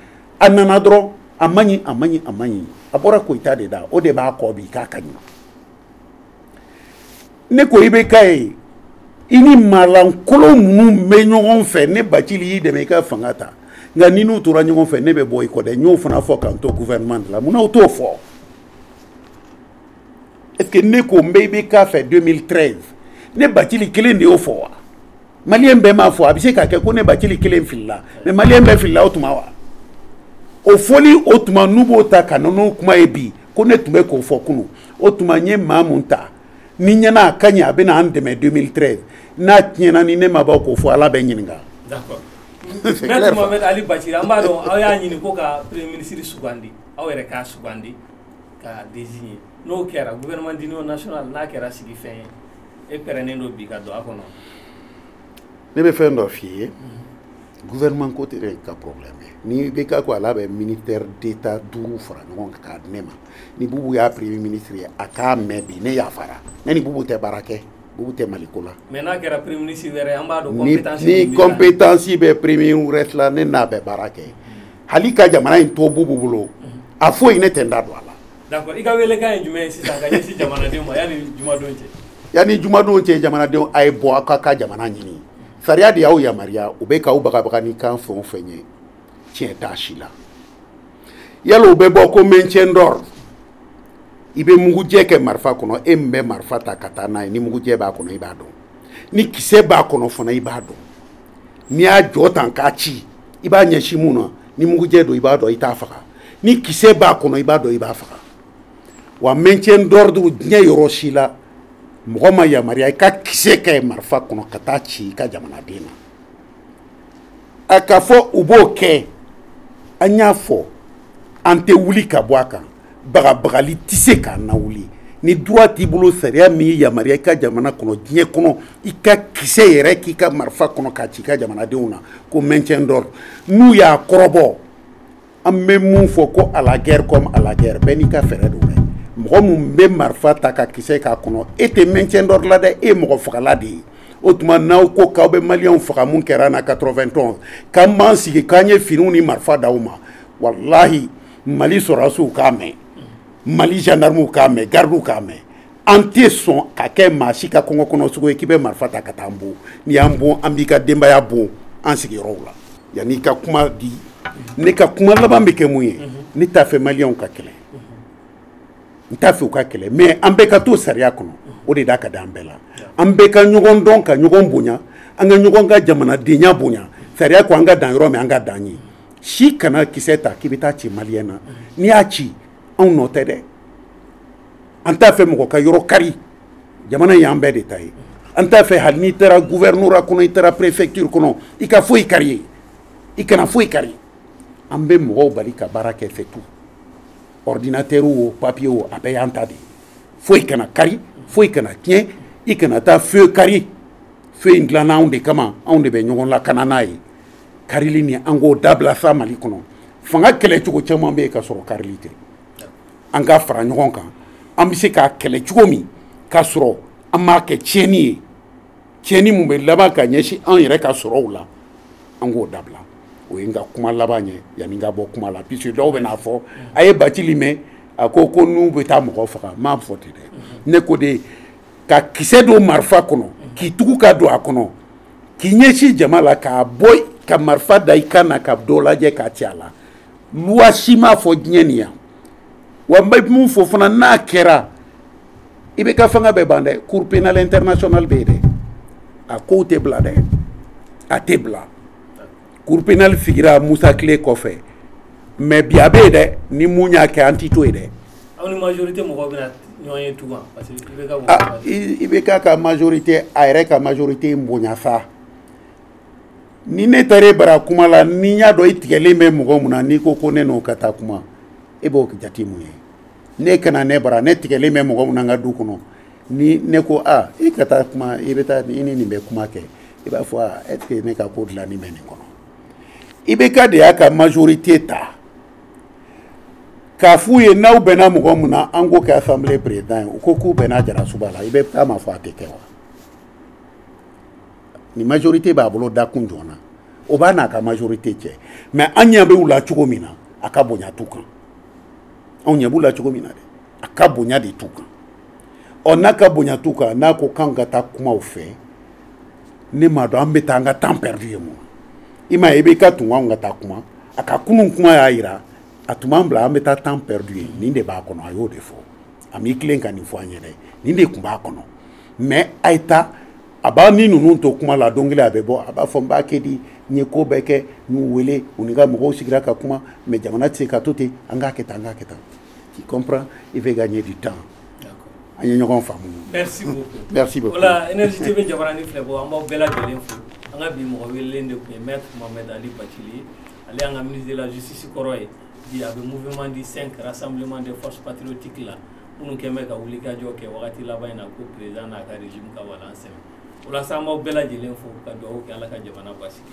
a nana dɔrɔn a man ɲi a man ɲi a man ɲi a bɔra koyita de da o de b'a kɔ bi k'a ka ɲi ne ko IBK ye i ni maalankolon minnu bɛ ɲɔgɔn fɛ ne bacili y'i dɛmɛ i ka fanga ta nka n'i n'u tora ɲɔgɔn fɛ ne bɛ bɔ i kɔ dɛ n y'o fana fɔ ka n to gouvernement de la munna u t'o fɔ est ce que ne ko n bɛ IBK fɛ 2013 ne bacili kelen de y'o fɔ wa. malien bɛɛ m'a fɔ a bɛ se ka kɛ ko ne bacili kelen filila mais malien bɛɛ filila o tuma wa o fɔli o tuma n'u b'o ta ka na n'o kuma ye bi ko ne tun bɛ k'o fɔ kunu o tuma n ye maa mun ta ne ɲɛ na a ka ɲi a bɛna an dɛmɛ 2013 n'a tiɲɛna ni ne ma bɔ k'o fɔ ala bɛ n ɲininka Maître Mohamed Ali Bacili an b'a dɔn aw y'a ɲini ko ka premier ministre sugandi aw yɛrɛ k'a sugandi k'a désigner n'o kɛra gouvernement d'union nationale n'a kɛra sigifɛn ye e pɛrɛnnen don bi ka don a kɔnɔ ne bɛ fɛn dɔ f'i ye mhm. gouvernement ko tɛ ne ka problème ye ni IBK ko ale bɛ ministère d'état duuru fara ɲɔgɔn kan k'a di ne ma ni bubu y'a premier ministre ye a k'a mɛn bi ne yafara ne ni bubu tɛ baara kɛ bubu tɛ mali ko la. mais n'a kɛra premier ministre wɛrɛ an b'a dɔn compétence ni ni compétence bɛ premier wɛrɛ la ne n'a bɛ baara kɛ hali ka jamana in to bubu bolo mhm. a foyi ne tɛ n da don a la. D'accord i ka welekan ye jumɛn ye sisan ka ɲɛsin jamanadenw ma yani jumadon cɛ? Yani jumadon cɛ jamanadenw a ye bɔ aw ka jamana ɲini. Sariya de y'aw yamaruya u bɛ k'aw bagabaga ni kan fɛn o fɛn ye tiɲɛ t'a si la. Yala u bɛ bɔ ko maintien d'ordre i bɛ mugujɛ kɛ marifa kɔnɔ e min bɛ marifa ta ka taa n'a ye ni mugujɛ b'a kɔnɔ i b'a dɔn ni kisɛ b'a kɔnɔ fana i b'a dɔn n'i y'a jɔ tan k'a ci i b'a ɲɛsin mun na ni mugujɛ don i b'a dɔn i t'a faga ni kisɛ b'a kɔnɔ i b'a dɔn i b'a faga wa maintien d'ordre diɲɛ yɔrɔ si la mɔgɔ ma yamaruya i ka kisɛ kɛ marifa kɔnɔ ka taa ci i ka jamanaden na a k'a fɔ u b'o kɛ an y'a fɔ an tɛ wuli ka bɔ a kan bagabagali tɛ se k'an lawuli ni droit t'i bolo sariya min y'i yamaruya i ka jamana kɔnɔ diɲɛ kɔnɔ i ka kisɛ yɛrɛ k'i ka marifa kɔnɔ k'a ci i ka jamanadenw na ko maintien d'ordre n'u y'a kɔrɔbɔ an bɛ mun fɔ ko à la guerre comme à la guerre bɛɛ n'i ka fɛɛrɛ don dɛ mɔgɔ min bɛ marifa ta ka kisɛ k'a kɔnɔ e tɛ maintien d'ordre la dɛ e ye mɔgɔ fagala de ye o tuma n'aw ko k'aw bɛ maliyɛnw faga mun kɛra an na 91 k'an b'an sigi k'an ye finiw ni marifa d'aw ma walahi mali sɔrɔdasiw k'a mɛn mali gendarmew k'a mɛn gardiw k'a mɛn an tɛ sɔn ka kɛ maa si ka kungo kɔnɔ sogo ye k'i bɛ marifa ta ka taa an bon n'i y'an bon an b'i ka denbaya bon an sigiyɔrɔw la yanni ka kuma di ne ka kuma laban bɛ kɛ mun ye ne t'a fɛ maliyɛnw ka kɛlɛ n t'a fɛ u ka kɛlɛ mais an bɛɛ ka to sariya kɔnɔ o de da ka di an bɛɛ la an bɛɛ ka ɲɔgɔn dɔn ka ɲɔgɔn bonya an ka ɲɔgɔn ka jamanadenya bonya sariya ko an ka dan yɔrɔ min an ka dan yen si kana kisɛ ta k'i bɛ taa ci maliyɛn na n'i y'a ci anw nɔ tɛ dɛ an t'a fɛ mɔgɔ ka yɔrɔ kari jamana in y'an bɛɛ de ta ye an t'a fɛ hali n'i taara gouvernorat kɔnɔ i taara préfecture kɔnɔ i ka foyi kari yen i kana foyi kari an bɛ mɔgɔw bali ka baara kɛ c'est tout ordinateur o papier o a bɛɛ y'an ta de ye foyi kana kari foyi kana tiɲɛ i kana taa feu kari feu in dilanna anw de kama anw de bɛ ɲɔgɔn lakana n'a ye karili nin an k'o dabila sa mali kɔnɔ fanga kɛlɛ cogo caman bɛ yen ka sɔrɔ karili tɛ an ka fara ɲɔgɔn kan an bɛ se k'a kɛlɛ cogo min k'a sɔrɔ an m'a kɛ tiɲɛni ye tiɲɛni mun bɛ laban ka ɲɛsin an yɛrɛ ka sɔrɔw la an k'o dabila o ye n ka kuma laban ye yanni n ka bɔ kuma la puisque dɔw bɛ n'a fɔ a ye bacili mɛn a ko ko n'u bɛ taa mɔgɔ faga n m'a fɔ ten dɛ ne ko de ka kisɛ don marifa kɔnɔ k'i tugu ka don a kɔnɔ k'i ɲɛsin jama la k'a bɔ ka marifa da i kan na ka dɔ lajɛ k'a ci a la loi si m'a fɔ diɲɛ nin yan wa n bɛ mun fɔ fana n'a kɛra IBK fanga bɛ ban dɛ cour pénale internationale bɛ yen dɛ a kow tɛ bila dɛ a tɛ bila cour pénale sigira musa tile kɔfɛ mais bi a bɛ yen dɛ ni mun y'a kɛ an t'i to yen dɛ. aw ni majorité mɔgɔw bɛna ɲɔgɔn ye tugun parce que IBK. IBK ka majorité a yɛrɛ ka majorité bonya sa. ni ne taara e bara kuma la n'i y'a dɔn i tigɛlen bɛ mɔgɔ mun na n'i ko ko ne n'o ka taa kuma e b'o jate mun ye ne kana ne bara ne tigɛlen bɛ mɔgɔ mun na n ka du kɔnɔ ni ne ko a i ka taa kuma i bɛ taa i ni nin bɛ kuma kɛ i b'a fɔ a est ce que ne ka ko dilanni bɛ nin kɔnɔ IBK de y'a ka majorité ta k'a f'u ye n'aw bɛnna mɔgɔ mun na an k'o kɛ assemblée président ye u ko k'u bɛnna jarasuba la IBK m'a fɔ a tɛ kɛ wa ni majorité b'a bolo dakun jɔn na o b'a n'a ka majorité cɛ mais an ɲɛ bɛ u la cogo min na a ka bonya t'u kan anw ɲɛ b'u la cogo min na dɛ a ka bonya de t'u kan ɔ n'a ka bonya t'u kan n'a ko k'anw ka taa kuma u fɛ ne m'a dɔn an bɛ taa an ka temps perdu ye mun i m'a ye IBK tun k'anw ka taa kuma a ka kunun kuma y'a jira a tun b'an bila an bɛ taa temps perdu yen nin de b'a kɔnɔ a y'o de fɔ a m'i tilen ka nin fɔ an ye dɛ nin de tun b'a kɔnɔ mais a ye taa a b'a ni ninnu to kuma la don kelen a bɛ bɔ a b'a fɔ n b'a kɛ di n ye ko bɛɛ kɛ n y'u wele u ni n ka mɔgɔw sigira ka kuma mais jamana tɛ se ka to ten an k'a kɛ tan an k'a kɛ tan tu comprends il veut gagner du temps an ye ɲɔgɔn faamu merci beaucoup merci beaucoup voilà énergie tv jabaranin filɛbagaw an b'aw bɛɛ lajɛlen fo an ka bi mɔgɔ welelen de tun ye maître mohamed ali bacili ye ale y'an ka ministre de la justice kɔrɔ ye bi a bɛ mouvement du 5 rassemblement des forces patriotiques la minnu kɛn bɛ ka wulikajɔ kɛ wagati laban in na ko président n'a ka régime ka walan sɛmɛ o la sa an b'aw bɛɛ lajɛlen fo ka duwawu kɛ Ala ka jamana basigi